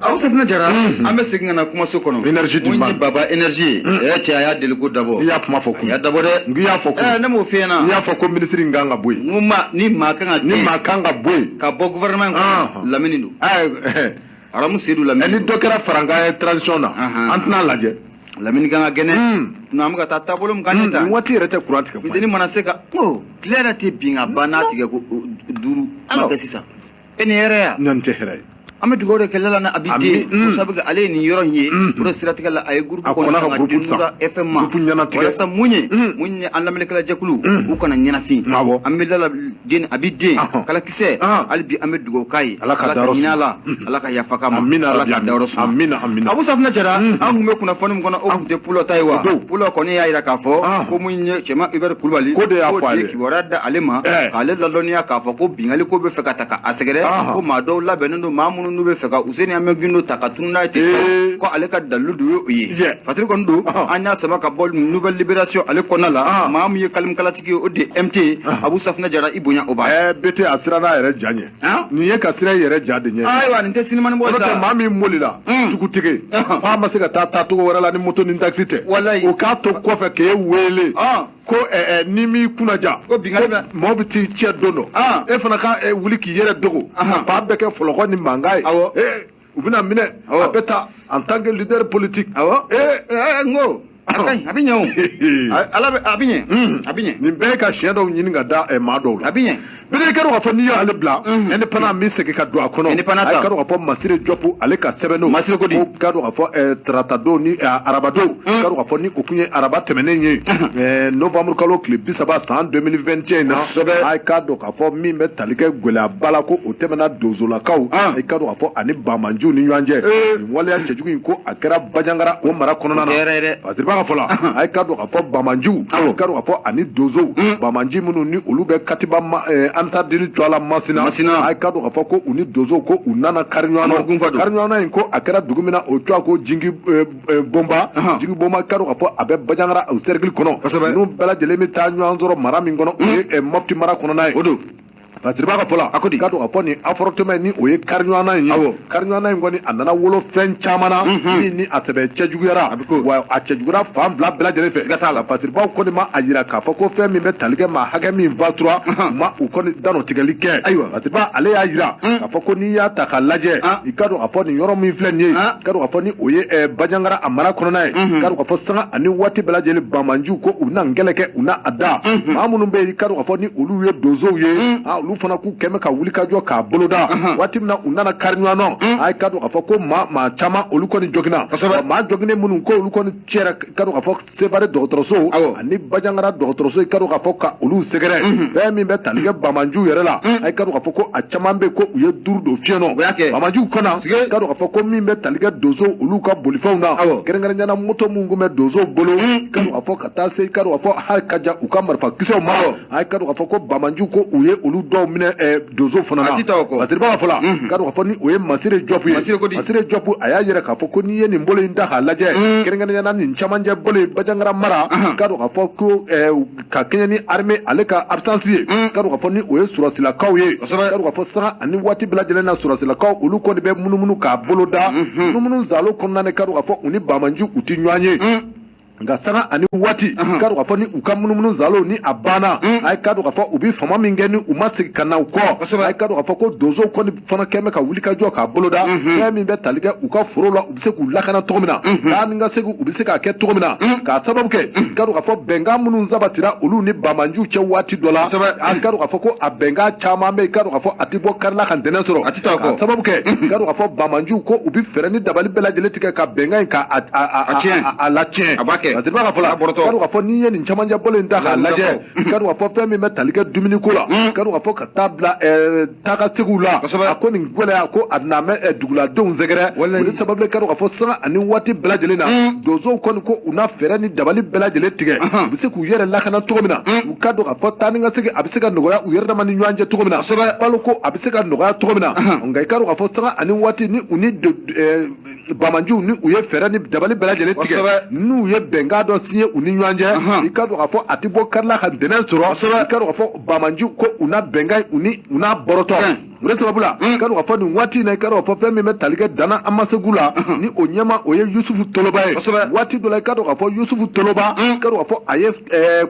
abu safinɛ jara an bɛ segin ka na kumaso kɔnɔ Énergie di n ma. Mun ye baba énergie ye ɛ cɛ a y'a deli ko dabɔ i y'a kuma fɔ kun a y'a dabɔ dɛ n k'i y'a fɔ kun ɛ ne m'o f'i ɲɛna n y'a fɔ ko minisiri in kan ka bɔ yen n ko ma ni maa kan ka ni gɛn maa kan ka bɔ yen ka bɔ gouvernement Ah. kɔnɔ lamini don ɛ aramu sedu ɛ, ni lamini dɔ kɛra farankan ye transition na Ahan. an tɛna lajɛ lamini kan ka gɛn Mm. nka an bɛ ka taa taabolo min kan ne ta nin waati yɛrɛ tɛ kuran tigɛ kuma ye. funteni mana se ka ko tile yɛrɛ tɛ bin ka ban n'a tigɛ ko o, duuru ma Alors. kɛ sisan e ni hɛrɛ yan nin tɛ hɛrɛ ye an bɛ dugawu de kɛ lala na abi den mm. sabu ale ye nin yɔrɔ in ye mm. o de siratigɛ la a ye gurupu kɔnɔ ka gurupu san fm ma gurupu ɲɛnatigɛ walasa mun ye mm. mun ye an lamɛnnikɛla jɛkulu u kana ɲɛnafin awɔ an bɛ lala den abi den kala kisɛ ah. hali bi an bɛ dugawu k'a ye ala ka hinɛ a la ala ka yafa k'a ma amina ala ka dayɔrɔ suma amina amina abu safinɛ jara an tun bɛ kunnafoni min kɔnɔ o tun tɛ pulɔ ta ye wa pulɔ kɔni y'a jira k'a fɔ ah. ko mun ye cɛman ibɛri kulubali k'o de y'a fɔ a ye kibaruya da ale ma Ɛɛ. k'ale ladɔnniya k'a fɔ ko binkanni ko bɛ fɛ ka ta ka a sɛgɛrɛ Ɔhɔ. ko maa dɔw labɛnnen don maa minnu n'u bɛ fɛ ka Useni Amiyɔn Gindo ta ka tunu n'a ye ten Ee. ko ale ka dalilu de y'o ye Jɛ. fatiri kɔni don Ɔhɔ. an y'a sama ka bɔ Nouvelle Libération ale kɔnɔna la Ɔhɔ. maa min ye kalimikalatigi ye o de ye MT Abu Safinɛ Jara i bonya o b'a ye. ɛɛ peut-être a sirann'a yɛrɛ ja ɲɛ An? nin ye ka siran i yɛrɛ ja de ɲɛ ayiwa nin tɛ sinimani bɔ n'o tɛ sa maa min bolila Mm. tugutige Ɔhɔ. k'a ma se ka taa taa cogo wɛrɛ la ni moto ni takisi tɛ Walayi. o k'a to kɔfɛ k'e wele Ɔn. ko ni m'i kunnadiya ko maaw bɛ t'i cɛ don dɔ ah. e fana ka wuli k'i yɛrɛ dogo ba bɛɛ kɛ fɔlɔkɔ ni mankan ye u bɛna minɛ a bɛ taa en tant que leader politique n ko a ka ɲi a bɛ ɲɛ o ala a bɛ ɲɛ a bɛ ɲɛ nin bɛɛ ye ka tiɲɛ dɔw ɲini ka da maa dɔw la a bɛ ɲɛ bele i ka dɔn k'a fɔ n'i y'ale bila indépendant min segin ka don a kɔnɔ indépendant ta i ka dɔn k'a fɔ masire jɔpu ale ka sɛbɛnniw masire ko di i ka dɔn k'a fɔ eh, taratadon ni eh, arabadon i ka dɔn k'a fɔ ni o tun ye araba tɛmɛnen ye eh, novembre kalo tile bi saba san 2021 in na a k'a dɔn k'a fɔ min bɛ tali kɛ gɛlɛyaba la ko o tɛmɛna donsolakaw i ka dɔn k'a fɔ ani banbaanciw ni ɲɔgɔn cɛ nin waleya cɛjugu in ko a kɛra bajangara o mara kɔnɔna na masireba ka fɔ la a ka dɔn a fɔ banbaanciw ka dɔn k'a fɔ ani donsow mm. banbaanci minnu ni olu bɛ katiba eh, ansardini tɔgɔ la masina masina a ka dɔn k'a fɔ ko u ni donsow ko u nana kari ɲɔgɔn na kari ɲɔgɔn na in ko a kɛra dugu min na o tɔgɔ ko jingi eh, eh, bonba jingi bonba ka dɔn k'a fɔ a bɛ bajangara o sɛrikili kɔnɔ n'u bɛɛ lajɛlen bɛ taa ɲɔgɔn sɔrɔ mara min kɔnɔ o ye mm. mɔpti mara kɔnɔna ye o don Masireba ka fɔ la, a ko di? Ka dɔn k'a fɔ nin affrontement ni o ye kariɲɔgɔnna in ye. Awɔ. Kariɲɔgɔnna in kɔni a nana wolo fɛn caman na. Unhun. Min ni a sɛbɛ cɛ juguyara. A bɛ k'o. Wa a cɛ juguyara fan fila bɛɛ lajɛlen fɛ. Siga t'a la. Masireba kɔni ma a jira k'a fɔ ko fɛn min bɛ tali kɛ maa hakɛ min fatura. Ahan. U ma o kɔni dantigɛli kɛ. Ayiwa. Masireba ale y'a jira. Un. K'a fɔ ko n'i y'a ta k'a lajɛ. An. I ka dɔn k'a fɔ nin yɔrɔ min filɛ nin ye. An. I ka dɔn k'a fɔ ni o ye ɛɛ Bajangara a mara kɔnɔna ye. Unhun. I ka dɔn k'a fɔ sanga ani waati bɛɛ lajɛlen Banbaanciw ko u na kɛlɛ kɛ u laada. Unhun. Maa minnu bɛ yen i ka dɔn k'a fɔ ni olu ye donsow ye mm. ah, olu fana k'u kɛmɛ ka wuli ka jɔ k'a boloda uh-huh. waati min na u nana kari ɲɔgɔn na mm. a ka dɔn k'a fɔ ko maa maa caman olu kɔni jogina maa joginen minnu ko olu kɔni cɛra ka dɔn k'a fɔ sevare dɔgɔtɔrɔso ani bajangara dɔgɔtɔrɔso i ka dɔn k'a fɔ ka olu sɛgɛrɛ mm-hmm. fɛn min bɛ tali kɛ banbaanciw yɛrɛ la mm. a ka dɔn k'a fɔ ko a caman bɛ ko u ye duuru don fiɲɛ na banbaanciw kɔnɔ i ka dɔn k'a fɔ ko min bɛ tali kɛ donso olu ka bolifɛnw na kɛrɛnkɛrɛnnenya la moto minnu tun bɛ donsow bolo ka dɔn k'a fɔ taa se k'a dɔn k'a fɔ hali ka ja u ka marifa kisɛw ma a ye k'a dɔn k'a fɔ ko banbaanciw ko u ye olu dɔw minɛ eh, donso fana na masire b'a fɔ la k'a dɔn k'a fɔ ni o ye masire jɔpu ye masire jɔpu a y'a yira k'a fɔ ko n'i ye nin bolo in ta k'a lajɛ mm. kɛrɛnkɛrɛnya na nin camancɛ bolo in banjagara mara k'a dɔn k'a fɔ ko eh, ka kɛɲɛ ni armée ale ka absence ye mm. k'a dɔn k'a fɔ ni o ye sɔrɔsilakaw ye k'a dɔn k'a fɔ sanga ani waati bɛɛ lajɛlen na sɔrɔsilakaw olu kɔni bɛ munumunu k'a bolo da mm-hmm. munumunu saalo kɔnɔna na k'a dɔn k'a fɔ u ni banbaanciw u tɛ ɲɔgɔn ye mm. nka sanga ani waati k'a dɔn k'a fɔ ni u ka munumunu saalo ni a banna mm. a ye k'a dɔn k'a fɔ u bɛ fama min kɛ ni u ma segin ka na u kɔ a ye k'a dɔn k'a fɔ ko donso kɔni fana kɛn bɛ ka wuli ka jɔ k'a boloda mm-hmm. fɛn min bɛ tali kɛ u ka foro la u bɛ se k'u lakana cogo min na mm-hmm. taa ni ka segin u bɛ se k'a kɛ cogo min na mm. k'a sababu kɛ mm. k'a dɔn k'a fɔ bɛnkan minnu sabatira olu ni banbaanciw cɛ waati dɔ la a k'a dɔn k'a fɔ ko a bɛnkan caman bɛ yen k'a dɔn k'a fɔ a tɛ bɔ kari la ka ntɛnɛn sɔrɔ a tɛ taa k'a sababu kɛ mm-hmm. k'a dɔn k'a fɔ banbaanciw ko u bɛ fɛɛrɛ ni dabali bɛɛ lajɛlen tigɛ ka bɛnkan in ka a tiɲɛ a latiɲɛ a b'a kɛ parce que b'a ka fɔ la k'a dɔn k'a fɔ n'i ye nin camancɛ bolo in ta k'a lajɛ k'a dɔn k'a fɔ fɛn min bɛ tali kɛ dumuni ko la k'a dɔn k'a fɔ ka taa bila taakasegin la a ko nin gɛlɛya ko a na mɛ duguladenw sɛgɛrɛ o de sababu k'a dɔn k'a fɔ sanga ani waati bɛɛ lajɛlen na donsow kɔni ko u na fɛɛrɛ ni dabali bɛɛ lajɛlen tigɛ u bɛ se k'u yɛrɛ lakana cogo min na i k'a dɔn k'a fɔ taa ni ka segin a bɛ se ka nɔgɔya u yɛrɛ dama ni ɲɔgɔn cɛ cogo min na balo ko a bɛ se ka nɔgɔya cogo min na nka i k'a dɔn k'a fɔ sanga ani waati ni u ni Banbaanciw ni u ye fɛɛrɛ ni dabali bɛɛ lajɛlen tigɛ n'u ye bɛnkan dɔ signé u ni ɲɔgɔn cɛ i k'a dɔn k'a fɔ a tɛ bɔ kari la ka ntɛnɛn sɔrɔ i k'a dɔn k'a fɔ banbaanciw ko u na bɛnkan in u n'a bɔrɔtɔ o de sababu la i k'a dɔn k'a fɔ nin waati in na i k'a dɔn k'a fɔ fɛn min bɛ tali kɛ Dana Amasegu la ni o ɲɛmaa o ye Yusufu Toloba ye waati dɔ la i k'a dɔn k'a fɔ Yusufu Toloba i k'a dɔn k'a fɔ a ye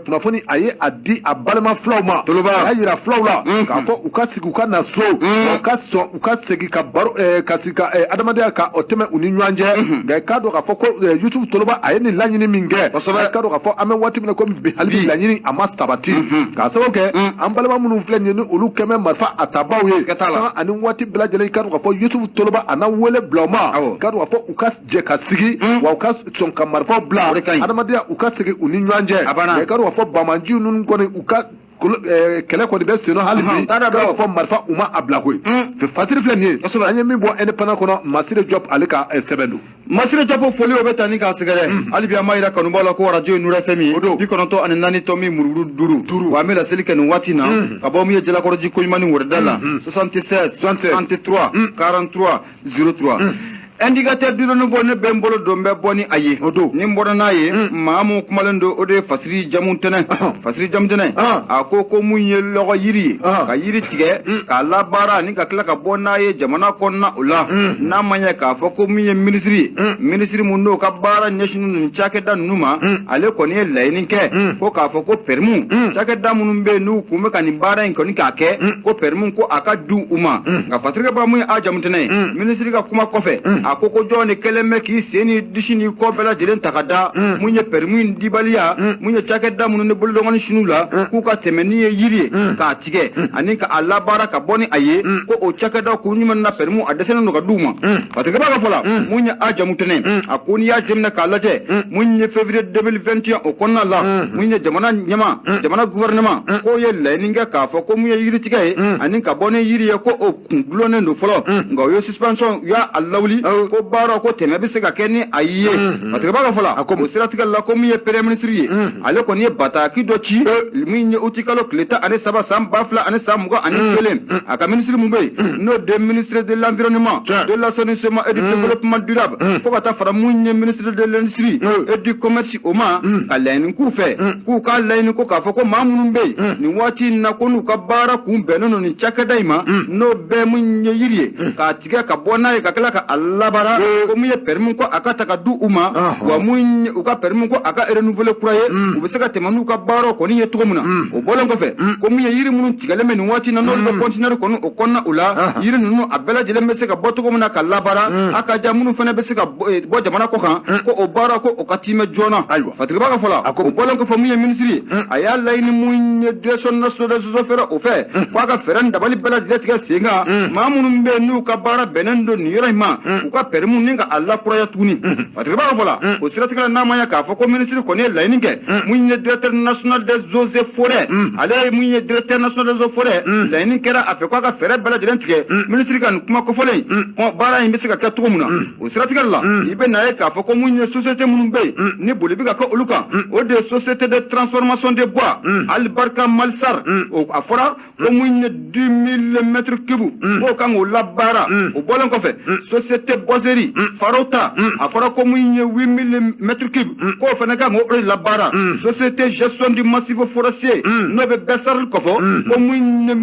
kunnafoni a ye a di a balima filaw ma a y'a yira filaw la k'a fɔ u ka segin u ka na so u ka sɔn u ka segin ka baro eh, ka sigi ka eh, adamadenya ka o tɛmɛ u ni ɲɔgɔn cɛ mhm. nka i k'a dɔn k'a fɔ ko eh, yusufu toloba a ye nin laɲini min kɛ i k'a dɔn k'a fɔ an bɛ waati min na komi bi hali bi laɲini a ma sabati mhm. k'a sababu kɛ mhm. an balima minnu filɛ nin ye ni olu kɛ bɛ marifa a tabaw ye sanga ani waati bɛɛ lajɛlen i k'a dɔn k'a fɔ yusufu toloba a na wele bila u ma i k'a dɔn k'a fɔ u ka jɛ ka sigi wa u ka sɔn ka marifaw bila adamadenya u ka segin u ni ɲɔgɔn cɛ nka i k'a dɔn k'a fɔ banbaanciw ninnu kɔni u ka Eh, kɛlɛ kɔni bɛ sen na hali bi k'a dɔn k'a fɔ marifa u ma a bila koyi mm. fasiri filɛ nin ye an ye min bɔ indépendant kɔnɔ masire jɔp ale ka eh, sɛbɛn don masire jɔp foli o bɛ taa ni k'a sɛgɛrɛ mm. hali bi an b'a yira kanubaaw la ko arajo ye nuru fm ye bi kɔnɔntɔn ani naani tɔ min murumuru duuru duuru wa an bɛ laseli kɛ nin waati na mm. ka bɔ min ye jalakɔrɔji koɲumani wɛrɛda la 76 63 43 03 indicateur du renouveau ne bɛ n bolo don bɛ bɔ ni a ye o don ni n bɔra n'a ye maa mun kumalen don o de ye fasiri jamutɛnɛ fasiri jamutɛnɛ a ko ko mun ye lɔgɔ yiri ye ka yiri tigɛ k'a labaara ani ka tila ka bɔ n'a ye jamana kɔnɔna o la n'a ma ɲɛ k'a fɔ ko min ye minisiri ye minisiri mun n'o ka baara ɲɛsin ninnu cakɛda ninnu ma ale kɔni ye laɲini kɛ ko k'a fɔ ko pɛrɛmu cakɛda minnu bɛ yen n'u kun bɛ ka nin baara in kɔni k'a kɛ ko pɛrɛmu ko a ka di u ma nka fatigiba mun ye a jamu tɛnɛ ye minisiri ka kuma kɔfɛ a ko ko jɔnni kɛlen bɛ k'i sen ni disi ni kɔ bɛɛ lajɛlen ta ka da mun ye pɛrɛmu dibaliya mun ye cakɛda minnu ni bolodɔn sunu la k'u ka tɛmɛ ni ye yiri ye k'a tigɛ ani ka a labaara ka bɔ ni a ye ko o cakɛdaw k'u ɲuman na pɛrɛmu a dɛsɛlen don ka d'u ma fatigiba ka fɔ la mun ye a jamu tɛnɛ a ko n'i y'a jateminɛ k'a lajɛ mun ye février 2021 o kɔnɔna la mun ye jamana ɲɛmaa jamana gouvernement k'o ye laɲini kɛ k'a fɔ ko mun ye yiritigɛ ye ani ka bɔ ni yiri ye ko o kun dulonnen don fɔlɔ nka o ye suspension u y'a lawuli ko baara ko tɛmɛ bɛ se ka kɛ ni a ye fatigiba ka fɔ la o siratigɛ la ko min ye premier ministre ye ale kɔni ye bataki dɔ ci min ye uti kalo tile tan ani saba san ba fila ani san mugan ani kelen a ka minisiri min bɛ yen n'o de ministre de l'environnement de l'assainissement et du développement durable fo ka taa fara mun ye ministre de l'industrie et du commerce o ma ka laɲini k'u fɛ k'u ka laɲini ko k'a fɔ ko maa minnu bɛ yen nin waati in na ko n'u ka baara kun bɛnnen don nin cakɛda in ma n'o bɛɛ min ye yiri ye k'a tigɛ ka bɔ n'a ye ka tila ka a labaara ko min ye pɛrɛmu ko a ka ta ka di u ma wa min u ka pɛrɛmu ko a ka renouveler kura ye u bɛ se ka tɛmɛ n'u ka baaraw kɔni ye cogo min na o bɔlen kɔfɛ ko min ye yiri minnu tigɛlen bɛ nin waati in na n'olu bɛ conteneur kɔni o kɔnɔna o la yiri ninnu a bɛɛ lajɛlen bɛ se ka bɔ cogo min na ka labaara a ka ja minnu fana bɛ se ka bɔ jamana kɔ kan ko o baara ko o ka tiimɛ joona ayiwa fatigiba ka fɔ la o bɔlen kɔfɛ mun ye minisiri ye a y'a laɲini mun ye direction nationale des eaux et forêts o fɛ ko a ka fɛɛrɛ ni dabali bɛɛ lajɛlen tigɛ sen kan maa minnu bɛ yen n'u ka baara bɛnnen don nin yɔrɔ in ma u ka pɛrɛmu nin ka a lakuraya tuguni fatigiba ka fɔ la o siratigɛ la n'a ma ɲɛ k'a fɔ ko minisiri kɔni ye laɲini kɛ mun ye directeur national des eaux et forêts ale ye mun ye directeur national des eaux et forêts laɲini kɛra a fɛ ko a ka fɛɛrɛ bɛɛ lajɛlen tigɛ minisiri ka nin kuma kofɔlen baara in bɛ se ka kɛ cogo min na o siratigɛ la mm. i bɛ na ye k'a fɔ ko mun ye société minnu bɛ yen mm. ni boli bɛ ka kɛ olu kan mm. o de ye société de transformation de bois alibarika mali sarl a fɔra ko mun ye 10000 mètres cube k'o kan k'o labaara o bɔlen kɔfɛ société boiserie farota a fɔra ko mun ye 8000 mètres cube k'o fana kan k'o de labaara société gestion du massif forestier n'o bɛ bɛ sarl kofɔ ko mun ye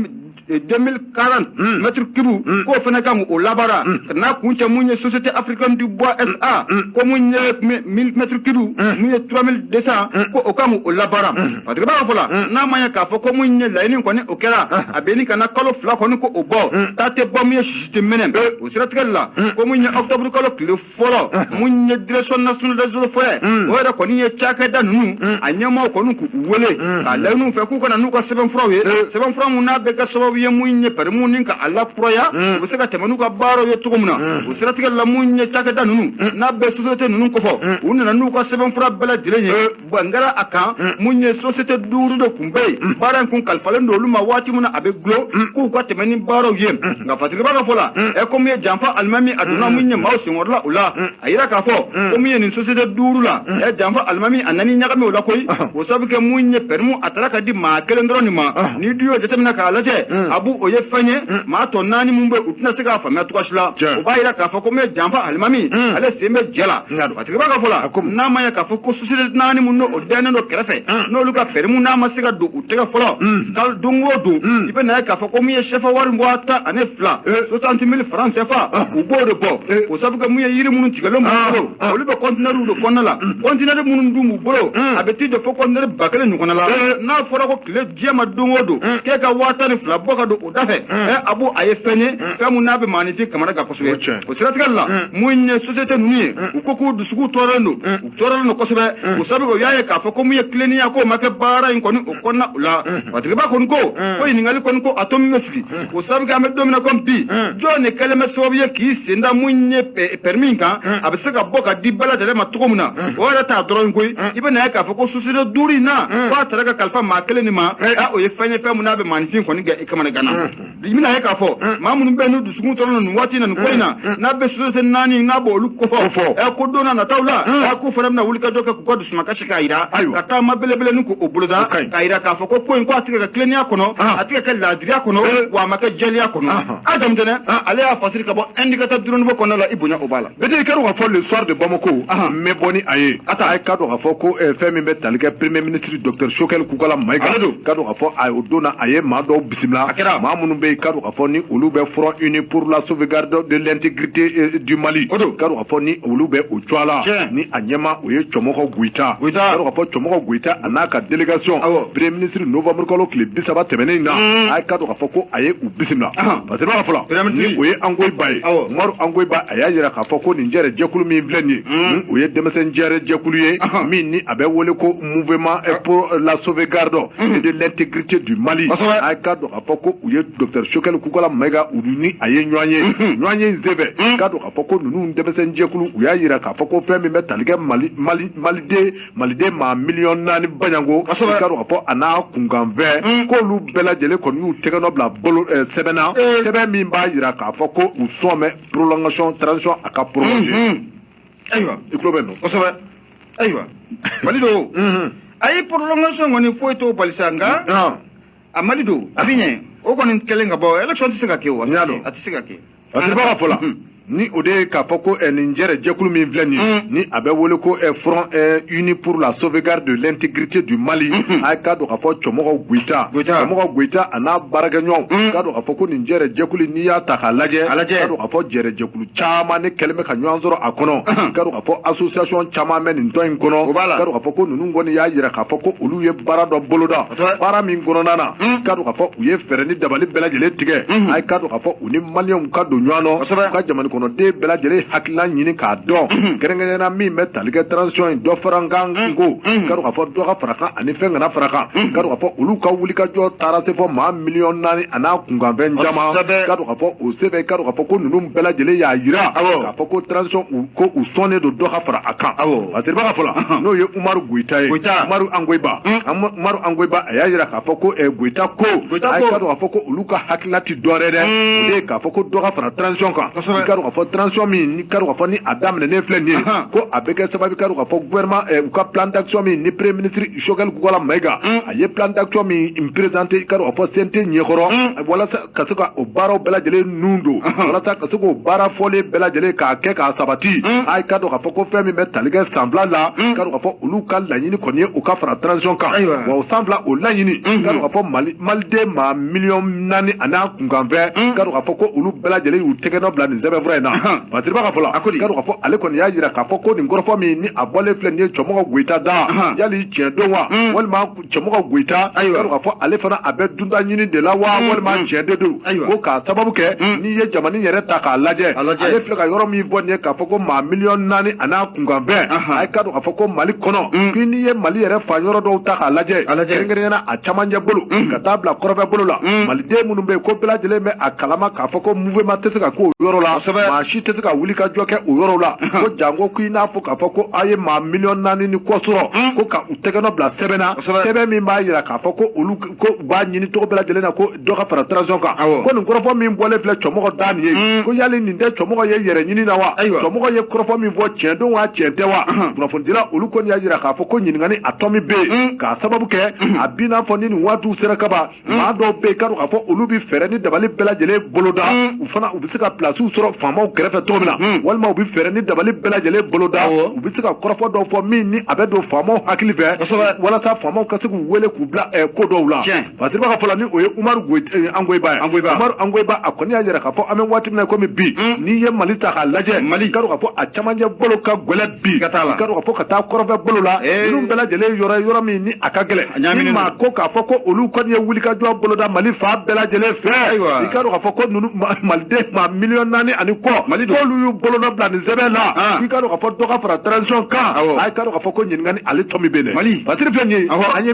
2040 hmm. mètre cube hmm. k'o fana kan o labaara hmm. ka n'a kun cɛ mun ye société africaine du bois sa ko mun ye 1000 mètre cube mun ye 3200 ko o kan o labaara fatigiba ka fɔ la n'a ma ɲɛ k'a fɔ ko mun ye laɲini kɔni o kɛra a bɛ ɲini ka na kalo fila kɔni ko o bɔ ta tɛ bɔ mun ye sisi tɛ mɛnɛ o siratigɛli la ko mun ye octobre kalo tile fɔlɔ mun ye direction nationale des eaux et forêts o yɛrɛ kɔni ye cakɛda ninnu a ɲɛmaaw kɔni k'u wele k'a laɲini u fɛ k'u ka na n'u ka sɛbɛnfuraw ye sɛbɛnfura mun n'a bɛ kɛ sababu ye mun ye pɛrimuw ni ka a lakuraya u bɛ se ka tɛmɛ n'u ka baaraw ye cogo min na o siratigɛ la mun ye cakɛda ninnu n'a bɛ société ninnu kofɔ u nana n'u ka sɛbɛnfura bɛɛ lajɛlen ye bɛn kɛra a kan mm. mun ye sosiyete duuru de kun bɛ yen mm. baara in kun kalifalen don olu ma waati min na a bɛ gulon mm. k'u ka tɛmɛ ni baaraw ye nka fatigibaa ka fɔ la ɛ ko mun ye janfa alimami a donna mun ye maaw senkɔrɔla o la a yira k'a fɔ ko mun ye nin sosiyete duuru la ɛ janfa alimami a nan'i ɲagami o la koyi uh-huh. o sabu kɛ mun ye pɛrimu a taara ka di maa kelen dɔrɔn de ma uh-huh. n'i dun y'o jateminɛ k'a lajɛ ah bon o ye fɛn ye maa tɔ naani mun bɛ u tɛna se k'a faamuya cogoya si la o b'a yira k'a fɔ ko mun ye janfa alimami ale sen bɛ jɛ la Tigiba ka fɔ la, a ko n'a ma ye k'a fɔ ko société naani mun n'o dɛnen don kɛrɛfɛ, un, n'olu ka permis n'a ma se ka don u tɛgɛ fɔlɔ, un, kalo don o don, un, i bɛ na ye k'a fɔ ko min ye sɛfa wari waa tan ani fila, ee, eh. 60 000 francs CFA, ah. u b'o de bɔ, ee, eh. o sabu kɛ mun ye yiri minnu tigɛlen b'u ah. bolo, ah. olu bɛ conteneurw de kɔnɔna la, mm. conteneur minnu dun b'u bolo, mm. a bɛ t'i jɔ fo conteneur ba kelen ɲɔgɔnna la, eh. n'a fɔra ko tile diɲɛ ma don o don, mm. k'e ka waa tan ni fila bɔ ka don o da fɛ ah bon a ye fɛn ye fɛn min n'a bɛ maaninfin kamana kan kosɛbɛ o siratigɛ la mun ye société ninnu ye u ko k'u dusukun tɔɔrɔlen don u tɔɔrɔlen don kosɛbɛ o sabu kɛ u y'a ye k'a fɔ ko mun ye tilennenya k'o ma kɛ baara in kɔni o kɔnɔna o la matigiba kɔni ko ko ɲininkali kɔni ko a tomi bɛ sigi o sabu kɛ an bɛ don min na komi bi jɔn de kɛlen bɛ sababu ye k'i sen da mun ye permis in kan a bɛ se ka bɔ ka di bɛɛ lajɛlen ma cogo min na o yɛrɛ t'a dɔrɔn koyi i bɛ na ye k'a fɔ ko société duuru in na k'a taara ka kalifa maa kelen nin ma a o ye fɛn ye fɛn min n'a bɛ maaninfin kɔni gɛ i kamana ganna i bɛna ye k'a fɔ maa minnu bɛ n'u dusukun tɔɔrɔlen nin waati na nin ko in na n'a bɛ société naani n'a b'olu kofɔ ɛ ko don na nataw la ɛ k'u fana bɛna wulikajɔ kɛ k'u ka dusumakasi k'a yira ka taama belebele nin k'o boloda k'a yira k'a fɔ ko ko in ko a tɛ ka kɛ tilennenya kɔnɔ a tɛ ka kɛ laadiriya kɔnɔ wa a ma kɛ jɛlenya kɔnɔ a jamutɛnɛ ale y'a fasiri ka bɔ indicateur du renouveau kɔnɔna la i bonya o b'a la bɛtɛ ka dɔn ka fɔ le soir de bamako n bɛ bɔ ni a ye a ta a ye ka dɔn ka fɔ ko eh, fɛn min bɛ tali kɛ premier ministre docteur choguel kokalla maïga ale don ka dɔn ka fɔ a o don na a ye maa dɔw bisimila a kɛra maa minnu bɛ yen ka dɔn ka fɔ ni olu bɛ front uni pour la sauvegarde de l'intégrité eh, du mali o don ka dɔn ka fɔ ni olu bɛ o cogoya la ni a ɲɛmaa o ye cɛmɔgɔ goyita ka dɔn ka fɔ cɛmɔgɔ goyita a n'a ka délégation premier ministre novembre kalo tile bi saba tɛmɛnen in na mm. a ye ka dɔn ka fɔ ko a ye bisimila parce que fɔla ni o ye ongoyiba ye umaru ongoyiba a y'a yira k'a fɔ ko nin jɛrɛ jɛkulu min filɛ nin ye hmm. o ye denmisɛn jɛrɛ jɛkulu ye min ni a bɛ wele ko mouvement eh, pour la sauvegarde hmm. eh, de l'intégrité du mali a ka dɔn k'a fɔ ko u ye docteur choguel kokalla maïga u ni a ye ɲɔgɔn ye hmm. ɲɔgɔnye in senfɛ k'a dɔn k'a fɔ ko ninnu denmisɛn jɛkulu u y'a yira k'a fɔ ko fɛn min bɛ tali kɛ mali mali maliden maliden maa miliyɔn naani baɲango k'a dɔn k'a fɔ a n'a kunkanfɛn mm. k'olu bɛɛ lajɛlen kɔni y'u tɛgɛnɔ bila bolo eh, sɛbɛn na eh. sɛbɛn min b'a jira k'a fɔ ko u sɔn bɛ prolongation transition a ka prolonger mm, mm. ayiwa i tulo bɛ nɔ kosɛbɛ ayiwa mali don mm-hmm. a ye prolongation kɔni foyi t'o bali sa nka ah. a mali don a bɛ ɲɛ o kɔni kɛlen ka ban élection tɛ se ka kɛ o a tɛ se ka kɛ masiriba ka fɔ la mm. ni o de ye k'a fɔ ko eh, nin jɛrɛ jɛkulu min filɛ nin mm. ni a bɛ wele ko eh, front eh, uni pour la sauvegarde de l'intégrité du mali mm-hmm. a ye k'a dɔn k'a fɔ cɛmɔgɔ goyita cɛmɔgɔ goyita a n'a baarakɛɲɔgɔnw mm. k'a dɔn k'a fɔ ko nin jɛrɛ jɛkulu n'i y'a ta k'a lajɛ k'a dɔn k'a fɔ jɛrɛ jɛkulu caman de kɛlen bɛ ka ɲɔgɔn sɔrɔ a kɔnɔ mm-hmm. k'a dɔn k'a fɔ association caman bɛ nin tɔn in kɔnɔ k'a dɔn k'a fɔ ko ninnu kɔni y'a yira k'a fɔ ko olu ye baara dɔ boloda baara min kɔnɔna na k'a dɔn k'a fɔ u ye fɛɛrɛ ni dabali bɛɛ lajɛlen tigɛ mm-hmm. a ye k'a dɔn k'a fɔ u ni maliɛnw ka don ɲɔgɔn na ka jamana kɔnɔden bɛɛ lajɛlen hakilila ɲini k'a dɔn kɛrɛnkɛrɛnna min bɛ tali kɛ transition dɔ fara a kan ko k'a dɔn k'a fɔ dɔ ka fara a kan ani fɛn kana fara a kan k'a dɔn k'a fɔ olu ka wulikajɔ taara se fɔ maa miliyɔn naani a n'a kunkanfɛn caman k'a dɔn k'a fɔ o sɛbɛn k'a dɔn k'a fɔ ko ninnu bɛɛ lajɛlen y'a jira k'a fɔ ko transition ko u sɔnnen don dɔ ka fara a kan masiriba ka fɔ la n'o ye umaru goyita ye umaru angoyiba umaru angoyiba a y'a jira k'a fɔ ko goyita ko k'a fɔ ko olu ka hakilila dɔwɛrɛ dɛ o de k'a fɔ ko dɔ ka fara transition kan k'a dɔn k'a fɔ transition min ni k'a dɔn k'a fɔ ni a daminɛnen filɛ nin ye ko a bɛ kɛ sababu k'a dɔn k'a fɔ gouvernement eh, u ka plan d'action min ni premier ministre Choguel Kokalla Maïga a ye plan d'action min présenter k'a dɔn k'a fɔ CNT ɲɛkɔrɔ walasa ka se ka o baaraw bɛɛ lajɛlen nun don walasa ka se k'o baara fɔlen bɛɛ lajɛlen k'a kɛ k'a sabati a ye k'a dɔn k'a fɔ ko fɛn min bɛ tali kɛ san fila la k'a dɔn k'a fɔ olu ka laɲini kɔni ye o ka fara transition kan wa o san fila o laɲini k'a dɔn k'a fɔ Mali maliden maa miliyɔn naani a n'a kunkanfɛn k'a dɔn k'a fɔ ko olu bɛɛ lajɛlen y'u tɛgɛnɔ bila nin sɛbɛnfura in na masiriba ka fɔ la k'a dɔn k'a fɔ ale kɔni y'a jira k'a fɔ ko nin kɔrɔfɔ min ni a bɔlen filɛ nin ye cɛmɔgɔ goyita da yali tiɲɛ don wa walima cɛmɔgɔ goyita a ye k'a dɔn k'a fɔ ale fana a bɛ dunta ɲini de la wa walima tiɲɛ de don ko k'a sababu kɛ n'i ye jamana yɛrɛ ta k'a lajɛ ale filɛ ka yɔrɔ min fɔ nin ye k'a fɔ ko maa miliyɔn naani a n'a kunkanfɛn a ye k'a dɔn k'a fɔ ko mali kɔnɔ n'i ye mali yɛrɛ fan yɔrɔ dɔw ta k'a lajɛ camancɛ bolo mm. ka taa bila kɔrɔn fɛ bolo la mm. maliden minnu bɛ yen ko bɛɛ lajɛlen bɛ a kalama k'a fɔ ko mouvement tɛ se ka k'o yɔrɔ la maa si tɛ se ka wuli ka jɔ kɛ o yɔrɔ la mm-hmm. ko janko ko i n'a fɔ k'a fɔ ko a ye maa miliyɔn naani ni kɔ sɔrɔ mm. ko ka u tɛgɛnɔ bila sɛbɛn na sɛbɛn min b'a jira k'a fɔ ko olu ko u b'a ɲini cogo bɛɛ lajɛlen na ko dɔ ka fara transition kan awɔ ko nin kɔrɔfɔ min bɔlen filɛ cɔmɔgɔ da nin ye mm. ko yali nin tɛ cɔmɔgɔ ye yɛrɛ ɲini na wa ayiwa cɔmɔgɔ ye kɔrɔfɔ min fɔ tiɲɛ don wa tiɲɛ tɛ wa kunnafonidila olu kɔni y'a yira k'a fɔ ko ɲininkali a tɔ min bɛ yen mm. k'a sababu kɛ mm. a bi n'a fɔ ni nin waatiw sera kaban maa dɔw bɛ yen k'a dɔn k'a fɔ olu bɛ fɛɛrɛ ni dabali bɛɛ lajɛlen boloda u fana u bɛ se ka pilasiw sɔrɔ faamaw kɛrɛfɛ cogo min na walima u bɛ fɛɛrɛ ni dabali bɛɛ lajɛlen boloda u bɛ se ka kɔrɔfɔ dɔw fɔ min ni a bɛ don faamaw hakili fɛ walasa faamaw ka se k'u wele k'u bila eh, ko dɔw la fasiribaa ka fɔ la ni o ye umaru eh, angoyiba ye umaru angoyiba a kɔni y'a yira k'a fɔ an bɛ waati min na komi bi mm. n'i ye mali ta k'a lajɛ mali k'a dɔn k'a fɔ a camancɛ bolo ka gɛlɛn bi ka t'a la k'a dɔn k'a fɔ ka taa kɔrɔnfɛ bolo la eh. ninnu bɛɛ lajɛlen yɔrɔ yɔrɔ min ni a ka gɛlɛn ni maa ko k'a fɔ ko olu kɔni ye wulikajɔ boloda mali fan bɛɛ lajɛlen fɛ i k'a dɔn k'a fɔ ko ninnu maliden maa miliyɔn naani ani kɔ mali k'olu y'u bolonɔ bila nin sɛbɛn na ah. i k'a dɔn k'a fɔ dɔ ka fara transition kan a k'a dɔn k'a fɔ ko ɲininkali ale tɔ min bɛ yen dɛ mali batiri filɛ nin ye an ye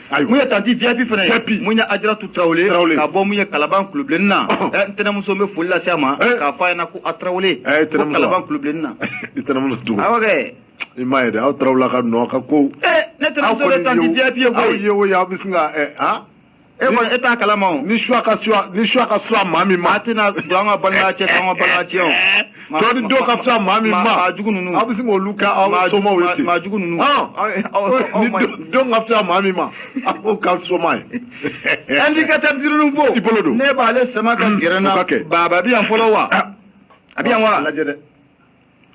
mun ye tanti vip fana ye mun ye ajaratu tarawele ka bɔ mun ye kalaban kulubilenni na eh, n tɛnɛmuso bɛ foli lase a ma eh. k'a fɔ a ɲɛna ko a tarawele eh, ko kalaban kulubilenni na awɔ kɛ i m'a ye dɛ aw tarawele ka nɔ ka ko ne tɛnɛmuso bɛ tanti vip ye koyi aw ye o ye aw bɛ sin ka han e kɔni e t'a kalama o ni suwa ka fisa ni suwa ka fisa maa min ma a tɛna don an ka balimaya cɛ k'an ka balimaya tiɲɛ o tɔ ni dɔw ka fisa maa min ma maa jugu ninnu aw bɛ sin k'olu kɛ aw somaw ye ten maa jugu ninnu ni dɔw ka fisa maa min ma a b'o k'a soma ye. indicateur du renouveau i bolo don ne b'ale sama ka gɛrɛ n na baba a bɛ yan fɔlɔ wa a bɛ yan wa lajɛ dɛ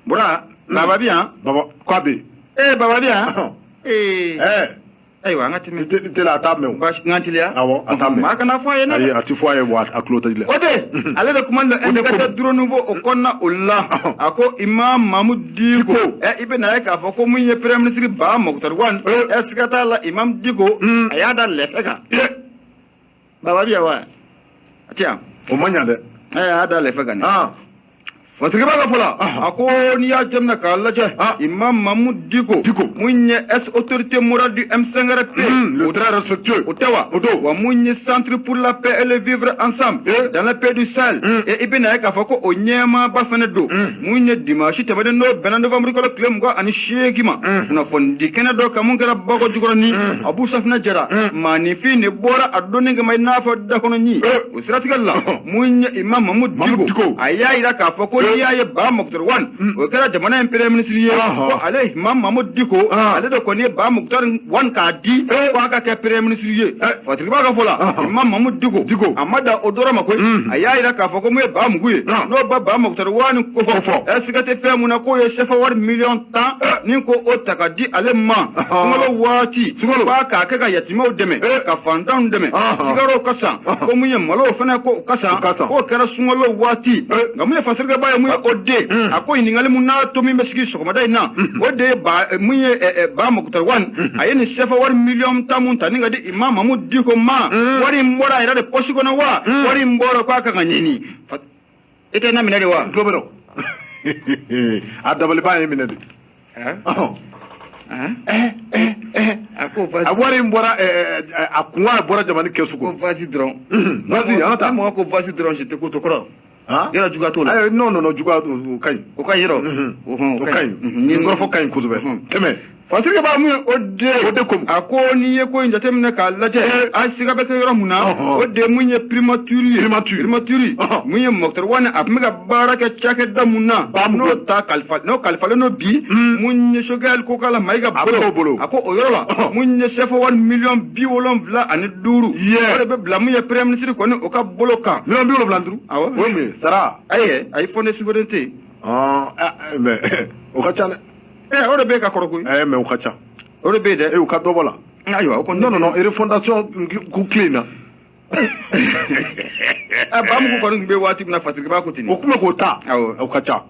bura baba bɛ yan baba k'a bɛ yen ee baba bɛ yan ee ɛɛ. ayiwa an ka tɛmɛ Te- tele a t'a mɛn o. baasi n ka teliya Awɔ, a t'a mɛn. maa kana fɔ a ye ne ayi a tɛ fɔ a ye wa a tulo tɛ dilan o de ale de kuma na indicateur du renouveau o kɔnɔna o la a ko imam mahmud diko Diko. ɛ i bɛ n'a ye k'a fɔ ko mun ye premier ministre ba mukutari wan Eh. ɛ siga t'a la imam diko a y'a da lɛfɛ kan baba bi yan wa a ti yan o ma ɲa dɛ ɛɛ a y'a da lɛfɛ kan dɛ Fasiribaa ka fɔ la a ko n'i y'a jateminɛ k'a lajɛ Imam Mahmud Diko Diko mun ye ex-autorité morale du M5RP hmm, le très respectueux o tɛ wa o don wa mun ye centre pour la paix et le vivre ensemble dans les pays du Sahel hmm. eh i bɛn'a ye k'a fɔ ko o ɲɛmaaba fana don hmm. mun ye dimansi tɛmɛnen n'o bɛnna novembre kalo tile mugan ani seegin ma kunnafonidi kɛnɛ dɔ kan mun kɛra bakɔ jikɔrɔni abu safinɛ jara maanifin de bɔra a donni kama i n'a fɔ dakɔnɔni o siratigɛ la mun ye imam mahmud diko a y'a yira k'a fɔ ko n'i y'a ye ba mukutari wan o kɛra jamana in premier ministre ye ko ale imam mahmud diko ale de kɔni ye ba mukutari wan k'a di ko a ka kɛ premier ministre ye fasiribaa ka fɔ la imam mahmud diko a ma dan o dɔrɔn ma koyi a y'a yira k'a fɔ ko mun ye ba mugu ye n'o ba ba mukutari Wani ko fɔ ɛ siga tɛ fɛn mun na k'o ye sɛfa wari miliyɔn tan ni ko o ta ka di ale ma sunkalo waati k'a k'a kɛ ka yatimɛw dɛmɛ ka fantanw dɛmɛ sukaro ka san ko mun ye malo fana ko ka san k'o kɛra sunkalo waati nka mun ye Patiriki Ba ye mun ye o de a ko ɲininkali mun n'a to min bɛ sigi sɔgɔmada in na o de ye ba mun ye Ba Mukutari Wani a ye nin sɛfa wari miliyɔn tan mun ta ni ka di Imam Mamu Diko ma wari in bɔra a yɛrɛ de pɔsi kɔnɔ wa wari in bɔra k'a kan ka ɲini i tɛ na minɛ de wa tulo bɛ dɔn a dabaliban ye minɛ de Ɔhɔn. a ka wari in bɔra ɛ, ɛ, ɛ, a ko a bɔra jamana kɛsu kɔnɔ vas-y dɔrɔn vas-y an ka taa ni mɔgɔ ko vas-y dɔrɔn je t'écoute o kɔrɔ Han? yɛrɛ juguya t'o la Ayi, non non non juguya o o ka ɲi o ka ɲi yɔrɔ Mhm. o hɔn, o ka ɲi nin kɔrɔfɔ ka ɲi kosɛbɛ Mhm. tɛmɛ Patiriki Ba mun ye o de ko a ko n'i ye ko in jateminɛ k'a lajɛ a siga bɛ kɛ yɔrɔ mun na o de mun ye primature ye primature mun ye Mukutari Wani a tun bɛ ka baara kɛ cakɛda mun na n'o ta kalifa n'o kalifalen don bi mun ye Sogɛli Kokala Mayiga bolo bolo a ko o yɔrɔ la mun ye sɛfa wari miliyɔn bi wolonwula ani duuru o de bɛ bila mun ye premier ministre kɔni o ka bolo kan miliyɔn bi wolonwula duuru awɔ o ye mun ye sara ayi ayi fonds de souveraineté mais o ka ca dɛ Eh, o de bɛ ka kɔrɔ koyi. Eh, mais o ka ca. O de bɛ dɛ. Eh, u ka dɔ bɔ la. Ayiwa, o kɔni. Non, non, non, refondation ko tile in na. Eh, Bamugu kɔni tun bɛ waati min na Patiriki Ba ko ten. O tun bɛ k'o ta. Awɔ. O ka ca.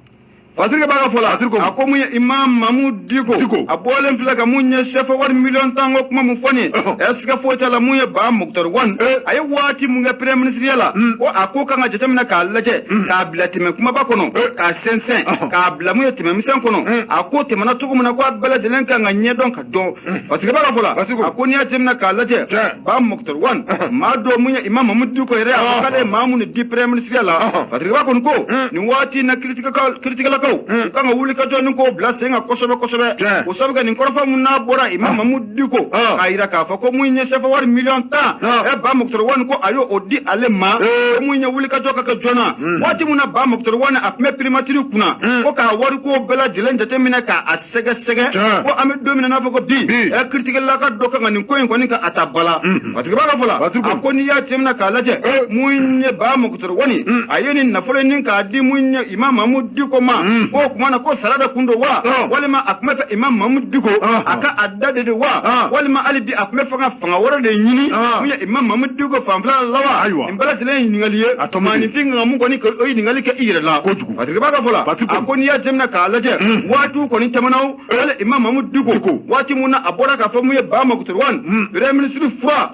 Patiriki Ba ka fɔ la. Patiriki. A ko mun ye Imam Mamu Diko. Diko. A bɔlen filɛ ka mun ye sɛfa wari miliyɔn tan ko kuma mun fɔ nin ye. Ɛ siga foyi t'a la mun ye Ba Mukutari Wani. A ye waati mun kɛ premier minisiriya la. Ko a ko kan ka jateminɛ k'a lajɛ. K'a bila tɛmɛ kunbaba kɔnɔ. K'a sɛnsɛn. k'a bila mun ye tɛmɛ misɛn kɔnɔ mm. a ko tɛmɛna cogo min na ko a bɛɛ lajɛlen kan ka ɲɛdɔn ka dɔn mm. Patiriki Ba ka fɔ la a ko n'i y'a jateminɛ k'a lajɛ Ba Mukutari Wani uh-huh. maa dɔ mun ye Imam Mamu Diko yɛrɛ a ko uh-huh. k'ale ye maa mun de di premier minisiriya la uh-huh. Patiriki Ba kɔni ko mm. nin waati na kiritigɛlakaw u kan ka wuli ka jɔ ni k'o bila sen kan kosɛbɛ kosɛbɛ o sabu kɛ nin kɔrɔfɔ mun n'a bɔra Imam Mamu Diko k'a yira k'a fɔ ko mun ye sɛfa wari miliyɔn tan ɛ ba mukutari wani ko a y'o di ale ma ko mun ye wulikajɔ ka kɛ joona waati min na ba mukutari wani a tun bɛ pirimatiri kunna ko k'a wariko bɛɛ lajɛlen jateminɛ k'a sɛgɛsɛgɛ ko an bɛ don min na n'a fɔ ko bi ɛ kiritigɛlaka dɔ kan ka nin ko in kɔni ka a ta ba la Patiriki Ba ka fɔ la a ko n'i y'a jateminɛ k'a lajɛ mun ye ba mukutari wani mm. a ye nin nafolo nin k'a di mun ye imam mamu diko ma o mm. tuma na ko sara de tun don wa oh. walima a tun b'a fɛ imam mamu diko oh. a ka a da de don wa oh. walima hali bi a tun b'a fɛ ka fanga wɛrɛ de ɲini mun ye imam mamu diko fanfɛla la wa nin bɛɛ lajɛlen ye ɲininkali ye maaninfin kan ka mun kɔni o ɲininkali kɛ i yɛrɛ la kojugu Patiriki Ba ka fɔ la a ko n'i y'a jateminɛ k'a lajɛ mm. waatiw kɔni tɛmɛna o eh. hali imam mamu diko waati mun na a bɔra k'a fɔ mun ye Ba Mukutari Wani mm. premier ministre fura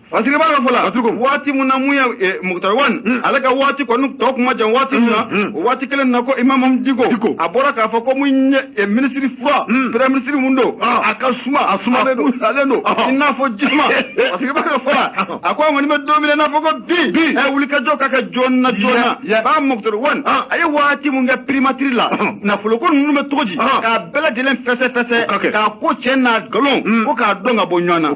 Fasiri b'a ka fɔ la waati min na mun ye Moctar Ouane ale ka waati kɔni tɔ kuma jan waati min na o waati kelen na ko imamu Diko a bɔra k'a fɔ ko mun ye ministre froid premier ministre min don a ka suma a sumalen don i n'a fɔ ji suma Fasiri b'a ka fɔ la a ko an kɔni bɛ don min na i n'a fɔ ko bi wulikajɔ ka kɛ joona joona ba Moctar Ouane a ye waati min kɛ primature la nafoloko ninnu bɛ cogo di k'a bɛɛ lajɛlen fɛsɛ fɛsɛ k'a ko cɛ n'a nkalon ko k'a dɔn ka bɔ ɲɔgɔn na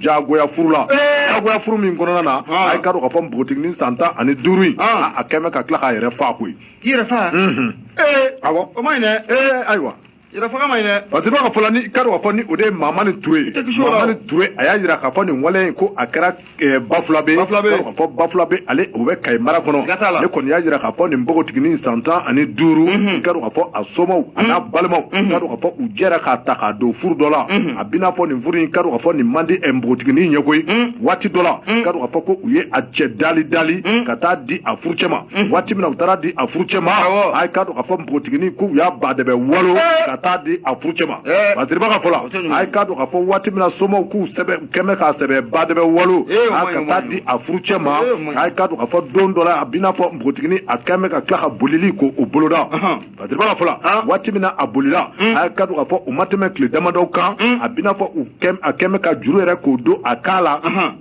jagoya furu la jagoya furu min kɔnɔna na a ye k'a dɔn k'a fɔ npogotiginin san tan ani duuru in a kɛn bɛ ka tila k'a yɛrɛ fa koyi k'i yɛrɛ fa ee awɔ o man ɲi dɛ ee ayiwa yɛrɛfaga man ɲi dɛ parce que b'a ka fɔ la ni k'a dɔn k'a fɔ ni o de ye Mamani Ture ye Mamani Ture a y'a jira k'a fɔ nin wale in ko a kɛra eh, Bafulabɛ k'a fɔ Bafulabɛ ale o bɛ Kayi mara kɔnɔ ne kɔni y'a jira k'a fɔ nin npogotiginin san tan ani duuru mhm. k'a dɔn k'a fɔ a somaw a n'a mhm. balimaw k'a mhm. dɔn k'a fɔ u jɛra k'a ta k'a don furu dɔ la a b'i n'a fɔ nin furu in k'a dɔn k'a fɔ nin man di npogotiginin ye koyi waati dɔ la k'a dɔn k'a fɔ ko u ye a cɛ dali dali ka taa di a furucɛ ma waati min na u taara di a furucɛ ma a ye k'a dɔn k'a fɔ npogotiginin ko u y'a ba dɛbɛ walo ka taa di a furucɛ ma Fasiri b'a ka fɔ la a ye k'a dɔn k'a fɔ waati min na somaw k'u kɛn bɛ k'a sɛbɛ ba dɛbɛ walo a ka taa di a furucɛ ma a ye k'a dɔn k'a fɔ don dɔ la a b'i n'a fɔ npogotiginin a kɛn bɛ ka tila ka bolili k'o boloda Fasiri b'a ka fɔ la waati min na a bolila mm. a ye k'a dɔn k'a fɔ u ma tɛmɛ tile damadɔ kan mm. a b'i n'a fɔ a kɛn bɛ ka juru yɛrɛ k'o don a kan la uh-huh.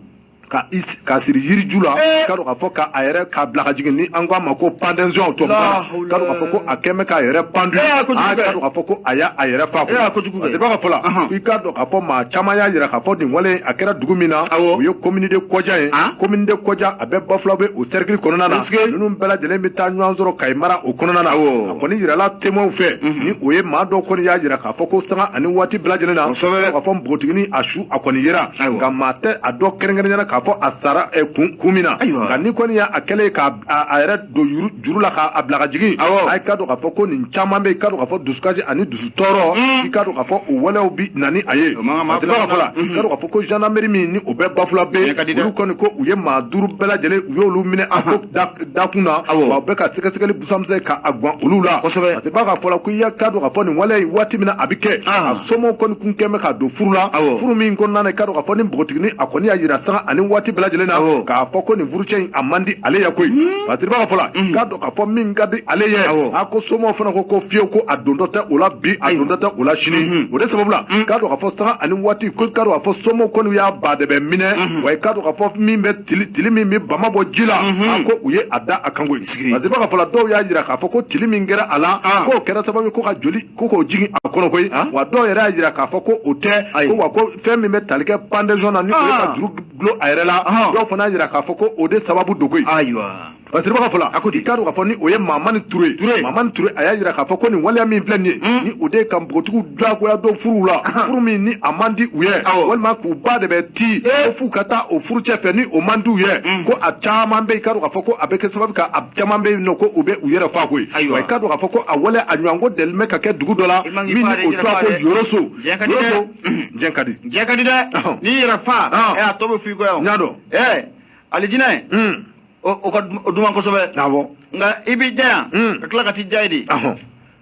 k'a siri yiriju la eh. ka k'a fɔ k'a yɛrɛ k'a bila ka jigin ni an ko a ma ko pendaison tɔ k'a dɔn k'a fɔ ko a kɛn bɛ k'a yɛrɛ pendu eh, k'a dɔn k'a fɔ ko a y'a a yɛrɛ fa eh, parce que b'a ka fɔ la i k'a dɔn k'a fɔ maa caman y'a yira k'a fɔ nin wale a kɛra dugu min na o ye commune de Koundian ye commune de Koundian a bɛ Bafulabɛ o cercle kɔnɔna na ninnu bɛɛ lajɛlen bɛ taa ɲɔgɔn sɔrɔ Kayi mara o kɔnɔna na a kɔni yirala témoins fɛ ni o ye maa dɔw kɔni y'a yira k'a fɔ ko sanga ani waati bɛɛ lajɛlen na k'a fɔ npogotigini a su a kɔni yera nka maa tɛ a dɔn kɛrɛnkɛrɛnya na k'a fɔ a sara kun min na nka ni kɔni y'a kɛlen k'a yɛrɛ don juru la k'a bila ka jigin a ye k'a dɔn k'a fɔ ko nin caman bɛ yen i k'a dɔn k'a fɔ dusukasi ani dusu tɔɔrɔ mm. i k'a dɔn k'a fɔ o walew bi na ni a ye parce que b'a ka fɔ la k'a mm-hmm. dɔn k'a fɔ ko gendarmerie min ni o bɛ Bafulabɛ yen olu kɔni ko u ye maa duuru bɛɛ lajɛlen u y'olu minɛ a ko dakun na wa u bɛ ka sɛgɛsɛgɛli busan misɛn k'a gan olu la kosɛbɛ parce que b'a ka fɔ la ko i k'a dɔn k'a fɔ nin wale in waati min na a bɛ kɛ ah. a somɔgɔw kɔni kun kɛn bɛ k'a don furu la furu min kɔnɔna na i k'a dɔn k'a fɔ ni npogotigini a kɔni y'a jira sanga ani waati bɛɛ lajɛlen na k'a fɔ ko nin furu cɛ a man di ale ye koyi hmm. parce que b'a ka fɔ la hmm. k'a dɔn k'a fɔ min ka di ale ye a ko somɔgɔw fana ko ko fiyewu ko a dontɔ tɛ o la bi a dontɔ tɛ o la sini hmm. o de sababu la k'a dɔn k'a fɔ sanga ani waati ko k'a dɔn k'a fɔ somɔgɔw kɔni y'a baadɛbɛ minɛ wa k'a dɔn k'a fɔ min bɛ tili tili min bɛ bama bɔ ji la a ko u ye a da a kan koyi parce que b'a ka fɔ la dɔw y'a jira k'a fɔ ko tili min kɛra a la ah. k'o kɛra sababu ye ko ka joli ko k'o jigin a kɔnɔ koyi ah. wa dɔw yɛrɛ y'a jira k'a fɔ ko o tɛ ko wa ko fɛn min bɛ tali kɛ pendaison na ni o ye ka ah. juru dulon a yɛrɛ la dɔw fana y'a jira k'a fɔ ko o de sababu don koyi ayiwa parce que ka fɔ la a ko i k'a dɔn k'a fɔ ni o ye mamani ture ye ture mamani ture a y'a jira k'a fɔ ko nin waleya min filɛ nin ye hmm. ni o de ye ka npogotigiw diyagoya don furu la furu min ni a man di u ye walima k'u ba de bɛ ti eh. ko f'u ka taa o furucɛ fɛ ni o man di u ye hmm. ko a caman bɛ yen k'a dɔn k'a fɔ ko a bɛ kɛ sababu ka a caman bɛ yen nɔ ko u bɛ u yɛrɛ fa koyi ayiwa i k'a dɔn k'a fɔ ko a waleya a ɲɔgɔnko deli bɛ ka kɛ dugu dɔ la min ni o tɔgɔ ko yoroso yoroso diɲɛ ka di diɲɛ ka di dɛ n'i yɛrɛ fa ɛ a tɔ bɛ f'i kɔ yan n y'a dɔn ɛ alijinɛ o ka duman kosɛbɛ awɔ nka i b'i diya yan ka tila ka t'i diya yen de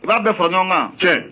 i b'a bɛɛ fara ɲɔgɔn kan tiɲɛ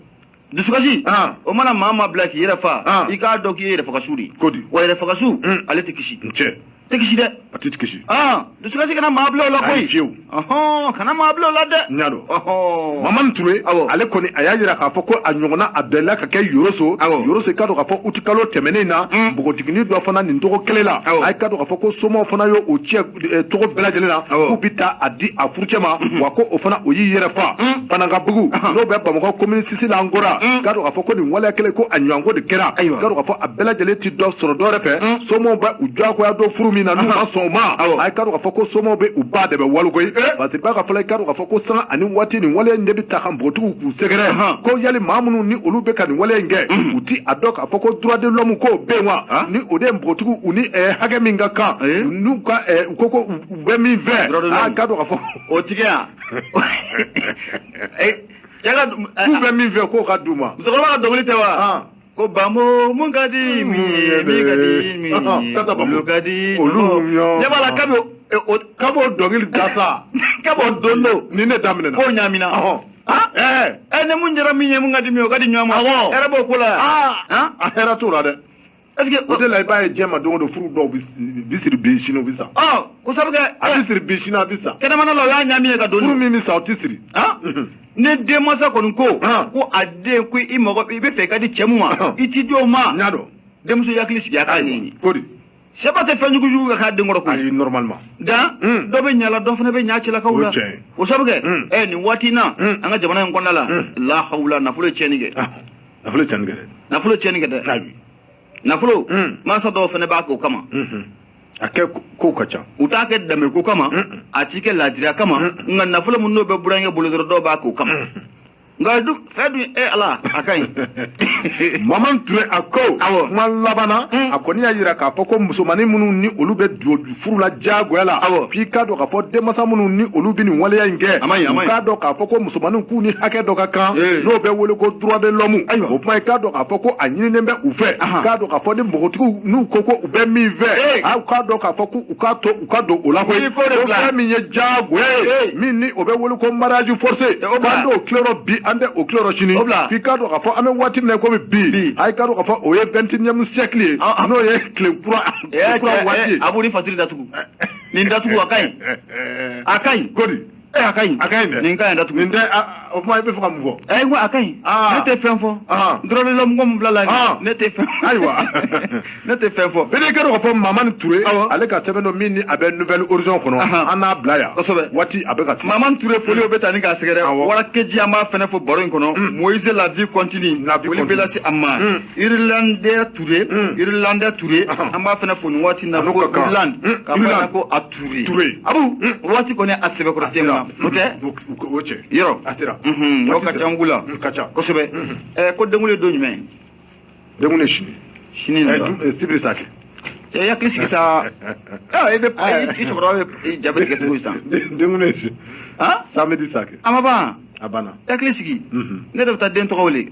dusukasi o mana maa maa bila k'i yɛrɛ fa i k'a dɔn k'i ye yɛrɛfagasu de ye wa yɛrɛfagasu ale tɛ kisi tiɲɛ tɛ kisi dɛ a tɛ kisi aa dusukasi kana maa bila o la koyi fiyewu ɔhɔn kana maa bila o la dɛ n y'a dɔn ɔhɔn mamani ture awɔ ale kɔni a y'a yira k'a fɔ ko a ɲɔgɔnna a delila ka kɛ yoroso awɔ yoroso i k'a dɔn k'a fɔ uti kalo tɛmɛnen na npogotigini dɔ fana nin cogo kelen la awɔ a k'a dɔn k'a fɔ ko somaw fana y'o o cɛ cogo bɛɛ lajɛlen na k'u bɛ taa a di a furucɛ ma wa ko o fana o y'i yɛrɛ fa banankabugu n'o bɛ bamakɔ komini six la encore k'a dɔn k'a fɔ ko nin waleya kelen ko a ɲɔgɔnko de kɛra k'a dɔn k'a fɔ a bɛɛ lajɛlen ti dɔ sɔrɔ dɔwɛrɛ fɛ somɔgɔw bɛ u diyagoya don furu min na n'u ma sɔn o ma a ye k'a dɔn k'a fɔ ko somɔgɔw bɛ u ba dɛbɛ walo koyi parce que ba ka fɔ la i k'a dɔn k'a fɔ ko sanga ani waati nin waleya in de bɛ taa ka npogotigiw k'u sɛgɛrɛ ko yali maa minnu ni olu bɛ ka nin waleya in kɛ u ti a dɔn k'a fɔ ko droit de l'homme k'o bɛ yen wa ni o de ye npogotigiw u ni eh, hakɛ min ka kan n'u ka eh, u ko ko u bɛ min fɛ Droit de l'homme. a k'a dɔn k'a fɔ o tigɛ yan cɛ ka du k'u bɛ min fɛ k'o ka d'u ma musokɔrɔba ka dɔnkili tɛ wa ko banbo mun ka di min ye min ka di min ye olu ka di olu ɲɛ b'a la kabi kabi o dɔnkili da sa kabi o don don ni ne daminɛna k'o ɲamina ɛ ni mun diyara min ye mun ka di min ye o ka di ɲɔgɔn ma hɛrɛ b'o ko la yan a hɛrɛ t'o la dɛ Est-ce que o de la i b'a ye diɲɛ ma don o don furu dɔw bi siri bi sini o bi sa. Ɔ ko sabu kɛ. a bi siri bi sini a bi sa. kɛnɛmana la o y'a ɲami ye ka don. furu min bi sa o ti siri. ni denmansa kɔni ko. ko a den ko i ma ko i bɛ fɛ i ka di cɛ mun ma. i ti di o ma. n y'a dɔn. denmuso yakili sigi a k'a ɲɛɲini. ko de. sɛba tɛ fɛn jugu jugu ka k'a den kɔrɔ koyi. ayi normalement. dan dɔ bɛ ɲala dɔ fana bɛ ɲa cɛlakaw la. o tiɲɛ ye. o sabu kɛ. ɛ nin waati in na. an ka jamana in kɔnɔna la. lahawula nafolo ye tiɲɛni kɛ. nafolo ye cɛnni kɛ dɛ nafolo ye cɛnni kɛ dɛ ayi nafolo mansa dɔw fana b'a k'o kama a kɛ kow ka ca u t'a kɛ danbe ko kama a ti kɛ laadiriya kama nka nafolo min n'o bɛ burankɛ bolo dɔrɔn dɔw b'a k'o kama nka dun fɛn dun e ala a ka ɲi mamani ture a ko awɔ kuma laban na a kɔni y'a jira k'a fɔ ko musomannin minnu ni olu bɛ duo furula diyagoya la k'i k'a dɔn k'a fɔ denmasa minnu ni olu bɛ nin waleya in kɛ u k'a dɔn k'a fɔ ko musomaninw k'u ni hakɛ dɔ ka kan n'o bɛ wele ko droit de l'homme o kuma i k'a dɔn k'a fɔ ko a ɲininen bɛ u fɛ k'a dɔn k'a fɔ ni npogotigiw n'u ko ko u bɛ min fɛ aw k'a dɔn k'a fɔ ko u k'a to u ka don o la koyi ko fɛn min ye diyagoya ye min ni o bɛ wele ko mariage forcé k'an t'o tileyɔrɔ bi an tɛ o tileyɔrɔ sini k'i k'a dɔn k'a fɔ an bɛ waati min na komi bi a i k'a dɔn k'a fɔ o ye 21e siècle ye n'o ye tile kura abu ni fasiri datugu nin datugu a ka ɲi a ka ɲi kodi a ka ɲi a ka ɲi nin ka ɲi datugu nin tɛ o kuma i bɛ fɛ ka mun fɔ ayi n ko a ka ɲi ne tɛ fɛn fɔ dɔrɔn mɔgɔ min fila la ne tɛ fɛn ayiwa ne tɛ fɛn fɔ bɛɛ kɛra k'a fɔ mamani ture ale ka sɛbɛn dɔ min ni a bɛ nouvelle horizon kɔnɔ an n'a bila yan kosɛbɛ waati a bɛ ka se mamani ture foli o bɛ taa ni k'a sɛgɛrɛ warakeji an b'a fɛnɛ fɔ baro in kɔnɔ moise la vie continue foli bɛ lase a ma Irilande Toure, mm. Irilande Toure, uh -huh. an b'a fana fo nin waati na ko Irland, mm. ka fana ko a Toure. Toure. Abu, mm. waati kɔni a sɛbɛkɔrɔ tɛ ma. O tɛ? O cɛ. Yɔrɔ. A sera. Mhm, yɔrɔ ka ca n kun la. Mm, ka ca. Kosɛbɛ. Mhm. Ɛ ko denkuli don jumɛn? Denkuli sini. Sini la. Ɛ sibiri sa kɛ. Cɛ i hakili sigi sa. Ɛ i bɛ i cɛkɔrɔba bɛ jabe tigɛ cogo sisan. Denkuli sini. Samedi sa kɛ. A ma ban. A banna. I hakili sigi. Ne de bɛ taa den tɔgɔ wele.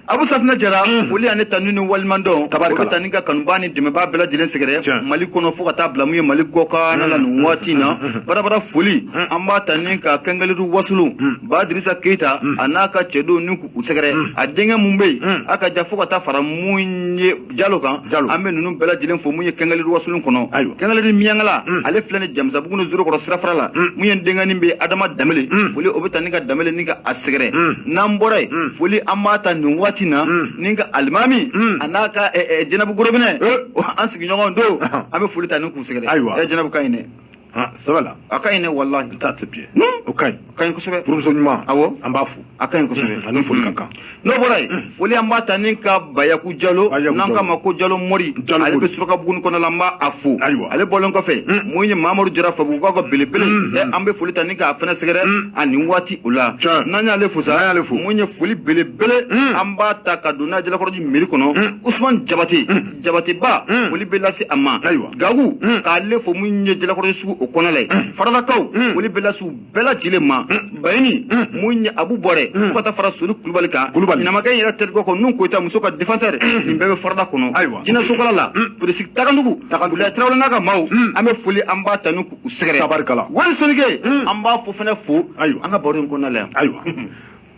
abu safinɛ jara mm. foli ani tanu ni walimandɔn tabarikala o bɛ ta ni ka kanubaa ni dɛmɛbaa bɛɛ lajɛlen sɛgɛrɛ mali kɔnɔ fo ka taa bila mun ye mali kɔkanna la mm. nin waati na mm. barabara foli an b'a ta ni ka kɛngɛlidu wasulu ba dirisa keita a n'a ka cɛdenw ni k'u sɛgɛrɛ a denkɛ mun bɛ yen a ka ja fo ka taa fara mun ye jalo kan jalo an bɛ ninnu bɛɛ lajɛlen fo mun ye kɛngɛli wasolon kɔnɔ ayiwa kɛngɛli miyankala mm. ale filɛ ni jamisabugu ni zorokɔrɔ sirafara la mm. mun ye denganin bɛ adama damele mm. foli o bɛ ta ni ka damele ni ka a sɛgɛrɛ n'an bɔra yen foli an b'a ta nin waati na ni ka alimami a n'a ka jɛnɛbu gorobinɛ eh. an sigiɲɔgɔn don an bɛ foli ta ni k'u sɛgɛrɛ ayiwa jɛnɛbu ka ɲi dɛ han sɛbɛ la a ka ɲi dɛ walahi n t'a tɛ biɲɛ o ka ɲi o ka ɲi kosɛbɛ furumuso ɲuman awɔ an b'a fo a ka ɲi kosɛbɛ ani foli ka kan n'o bɔra yen foli an b'a ta ni ka bayaku jalo Bayaku n'an Jalo. k'a ma ko jalo mori Jalo ale bɛ Mori. surakabuguni kɔnɔ la an b'a fo Ayiwa. ale bɔlen kɔfɛ mun ye mamadu jara fabugu ka belebele ɛ, an bɛ foli ta ni k'a fɛnɛ sɛgɛrɛ a nin waati o la Tiɲɛ. n'an y'ale fo sa N'an y'ale fo. mun ye foli belebele an b'a ta ka don n'a ye jalakɔrɔji meri kɔnɔ usumani jabate jabateba mm. foli bɛ lase a ma gagu mm. k'ale fo mun ye jalakɔrɔji sugu o kɔnɔ la ye mm. faradakaw foli bɛ lase u bɛɛ lajɛlen ma bayini mun ye abu bɔrɛ fo ka taa fara sori kulubali kan ɲamakɛ in yɛrɛ terikɛ kɔ nun koyita muso ka défenseur nin bɛɛ bɛ farada kɔnɔ jinɛsokala la polisi tagandugu abdulaye tarawele n'a ka maaw an bɛ foli an b'a ta ni k'u sɛgɛrɛ wali sonike an b'a fo fɛnɛ fo an ka baro in kɔnɔna la yan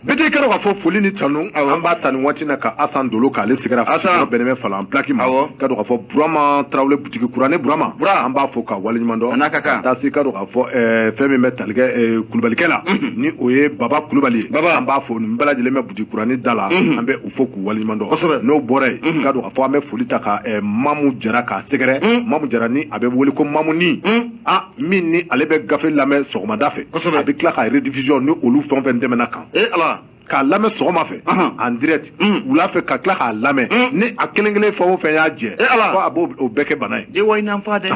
bɛɛ tɛ ka dɔn k'a fɔ foli ni tanu an b'a ta nin waati na ka asan dolo k'ale sɛgɛrɛ asan bɛnnen bɛ falan pilaki ma ka dɔn k'a fɔ burama tarawele butigi kurani burama bura an b'a fo ka waleɲuman dɔn ka taa se ka dɔn k'a fɔ eh, fɛn min bɛ talikɛ eh, kulubalikɛ la mhm. ni o ye baba kulubali ye baba an b'a fo nin bɛɛ lajɛlen bɛ butigi kurani da la mhm. an bɛ u fo k'u waleɲuman dɔn kosɛbɛ n'o bɔra yen mhm. ka dɔn k'a fɔ an bɛ foli ta ka eh, mamu jara k'a sɛgɛrɛ mamu jara ni a bɛ wele ko mamuni a min ni ale bɛ gafe lamɛn sɔgɔmada fɛ a bɛ tila ka rediffusion ni olu fɛn fɛn tɛmɛna kan e ala k'a lamɛn sɔgɔma fɛ en direct mm. wula fɛ ka tila k'a lamɛn mm. ni a kelen kelen fɛn o fɛn y'a jɛ e ala ko a b'o o bɛɛ kɛ bana ye de wayi n'an fa dɛ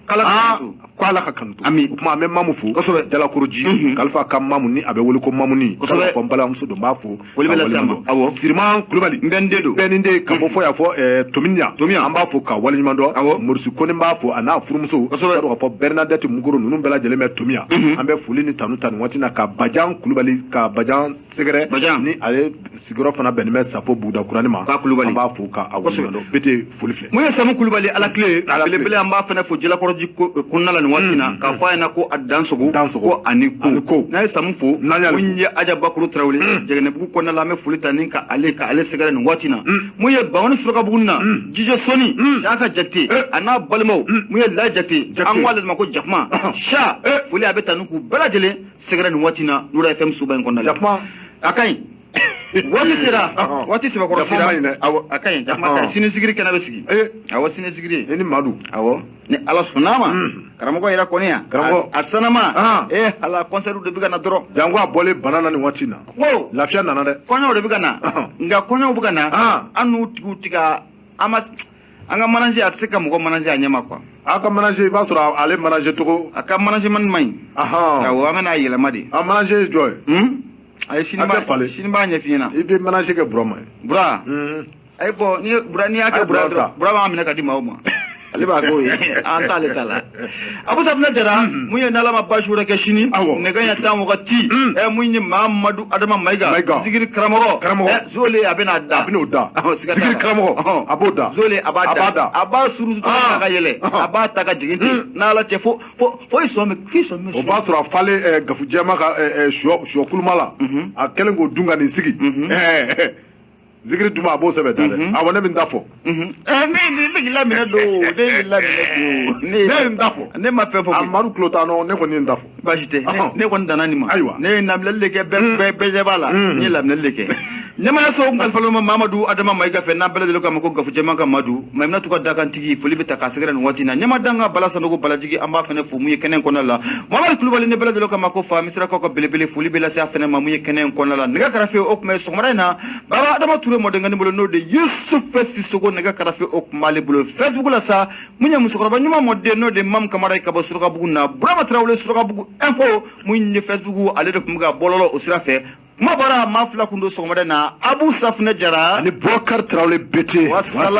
k'ala ah. ko ala ka kanu to ami o kuma an bɛ mamu fo kosɛbɛ jalakɔrɔji mm-hmm. kalifa ka mamu ni a bɛ wele ko mamuni kosɛbɛ ko n balimamuso don n b'a fo Wele bɛ lase an ma. Awɔ. Siriman Kulubali n bɛɛnin den don. Bɛɛnin den ka bɔ fɔ yan fɔ eh, Tominia. Tominia. An b'a fo ka waleɲuman dɔn. Awɔ. Morisi Kone b'a fo a n'a furumuso. Kosɛbɛ. Ka dɔn k'a fɔ Bernadette Munkoro ninnu bɛɛ lajɛlen bɛ Tominia. An bɛ foli ni tanu ta nin waati in na ka Bajan Kulubali ka Bajan sɛgɛrɛ. Bajan. Ni ale sigiyɔrɔ fana bɛnnen bɛ Safo buguda kurani ma. K'a Kulubali. An b'a fo ka a waleɲuman dɔn. Kosɛbɛ. Bete foli filɛ mun ye samu kulubali ala kile belebele an b'a fana fo jalakɔrɔji kɔnɔna la nin waati na k'a fɔ a ɲɛna ko a dansogo ko a ni ko n'a ye samu fo mun ye aja bakuru tarawele jɛgɛnɛbugu kɔnɔna la an bɛ foli ta ni ka ale ka ale sɛgɛrɛ nin waati na mun ye bawani surakabugu na jijɛ sɔni saka jakite a n'a balimaw mun ye layi jakite an ko ale ma ko jakuma sa foli a bɛ ta ni k'u bɛɛ lajɛlen sɛgɛrɛ nin waati na nura FM suba in kɔnɔna la a ka ɲi waati sera waati sɛbɛkɔrɔ sera a ka ɲi jama ka sini zigiri kɛnɛ bɛ sigi awɔ sini zigiri e ni madu awɔ ni ala sɔnna ma karamɔgɔ yɛrɛ kɔni yan karamɔgɔ a sanama ee ala kɔnsɛriw de bɛ ka na dɔrɔn janko a bɔlen bana na nin waati in na ko lafiya nana dɛ kɔɲɔw de bɛ ka na nka kɔɲɔw bɛ ka na an n'u tigiw ti ka an ma an ka manaje a tɛ se ka mɔgɔ manaje a ɲɛ ma kuwa a ka manaje i b'a sɔrɔ ale manaje cogo a ka manajemani man ɲi awɔ an bɛna a yɛlɛma de a manaje ye jɔn ye a ye sini b'a falen sini b'a ɲɛf'i ɲɛna i bɛ manaje kɛ burama ye bura ayi bɔ ni bura n'i y'a kɛ bura dɔrɔn bura b'a minɛ ka di maaw ma ale b'a k'o ye an t'ale ta la abu safinɛ jara mun ye n'ala ma baasi wɛrɛ kɛ sini nɛgɛ ɲɛ tan wagati ɛ mun ye mamadu adama mayiga zigiri karamɔgɔ ɛ zole a bɛna da a bɛn'o da zigiri karamɔgɔ a b'o da zole a b'a da a b'a surutu ta ka yɛlɛ a b'a ta ka jigin ten n'ala cɛ fo fo i sɔn bɛ fo i sɔn bɛ o b'a sɔrɔ a falen ɛɛ gafu jɛma ka ɛɛ sɔ sɔ kuluma la a kɛlen k'o dun ka nin sigi ɛɛ zikiri duma a b'o sɛbɛ da dɛ awɔ ne bɛ n ta fɔ ɛɛ ne ne ne y'i laminɛ don o ne y'i laminɛ don o ne ne ye n ta fɔ ne ma fɛn fɔ koyi amadu tulo t'a nɔ ne kɔni ye n ta fɔ baasi tɛ ne ne kɔni danna nin ma Ayiwa. ne ye laminɛli de kɛ bɛɛ bɛɛ bɛɛ ɲɛ b'a la n ye laminɛli de kɛ ɲɛmaayaso kalifalo ma mamadu adama mayiga fɛ n'an bɛɛ lajɛlen k'a ma ko gafujɛma ka madu maimunatu ka dakantigi foli bɛ taa k'a sɛgɛrɛ nin waati na ɲɛmaa dankan bala sanogo balajigi an b'a fɛnɛ fo mun ye kɛnɛ in kɔnɔna la mamadu kulubali n'an bɛɛ lajɛlen k'a ma ko fa misirakaw ka belebele foli bɛ lase a fɛnɛ ma mun ye kɛnɛ in kɔnɔna la nɛgɛ karafe o tun bɛ sɔgɔmada in na baba adama ture mɔdenkani bolo n'o de yusufu sisoko nɛgɛ karafe o tun b'ale bolo facebook la sa mun ye musokɔrɔba ɲuman mɔden n'o de mamu kamara ye ka bɔ surakabugu na burama tarawele surakabugu info mun ye facebook ale de tun bɛ ka bɔlɔlɔ o sira fɛ kuma bɔra maa fila kun don sɔgɔmada in na abu safunɛ jara ani bɔkari tarawele bete wasala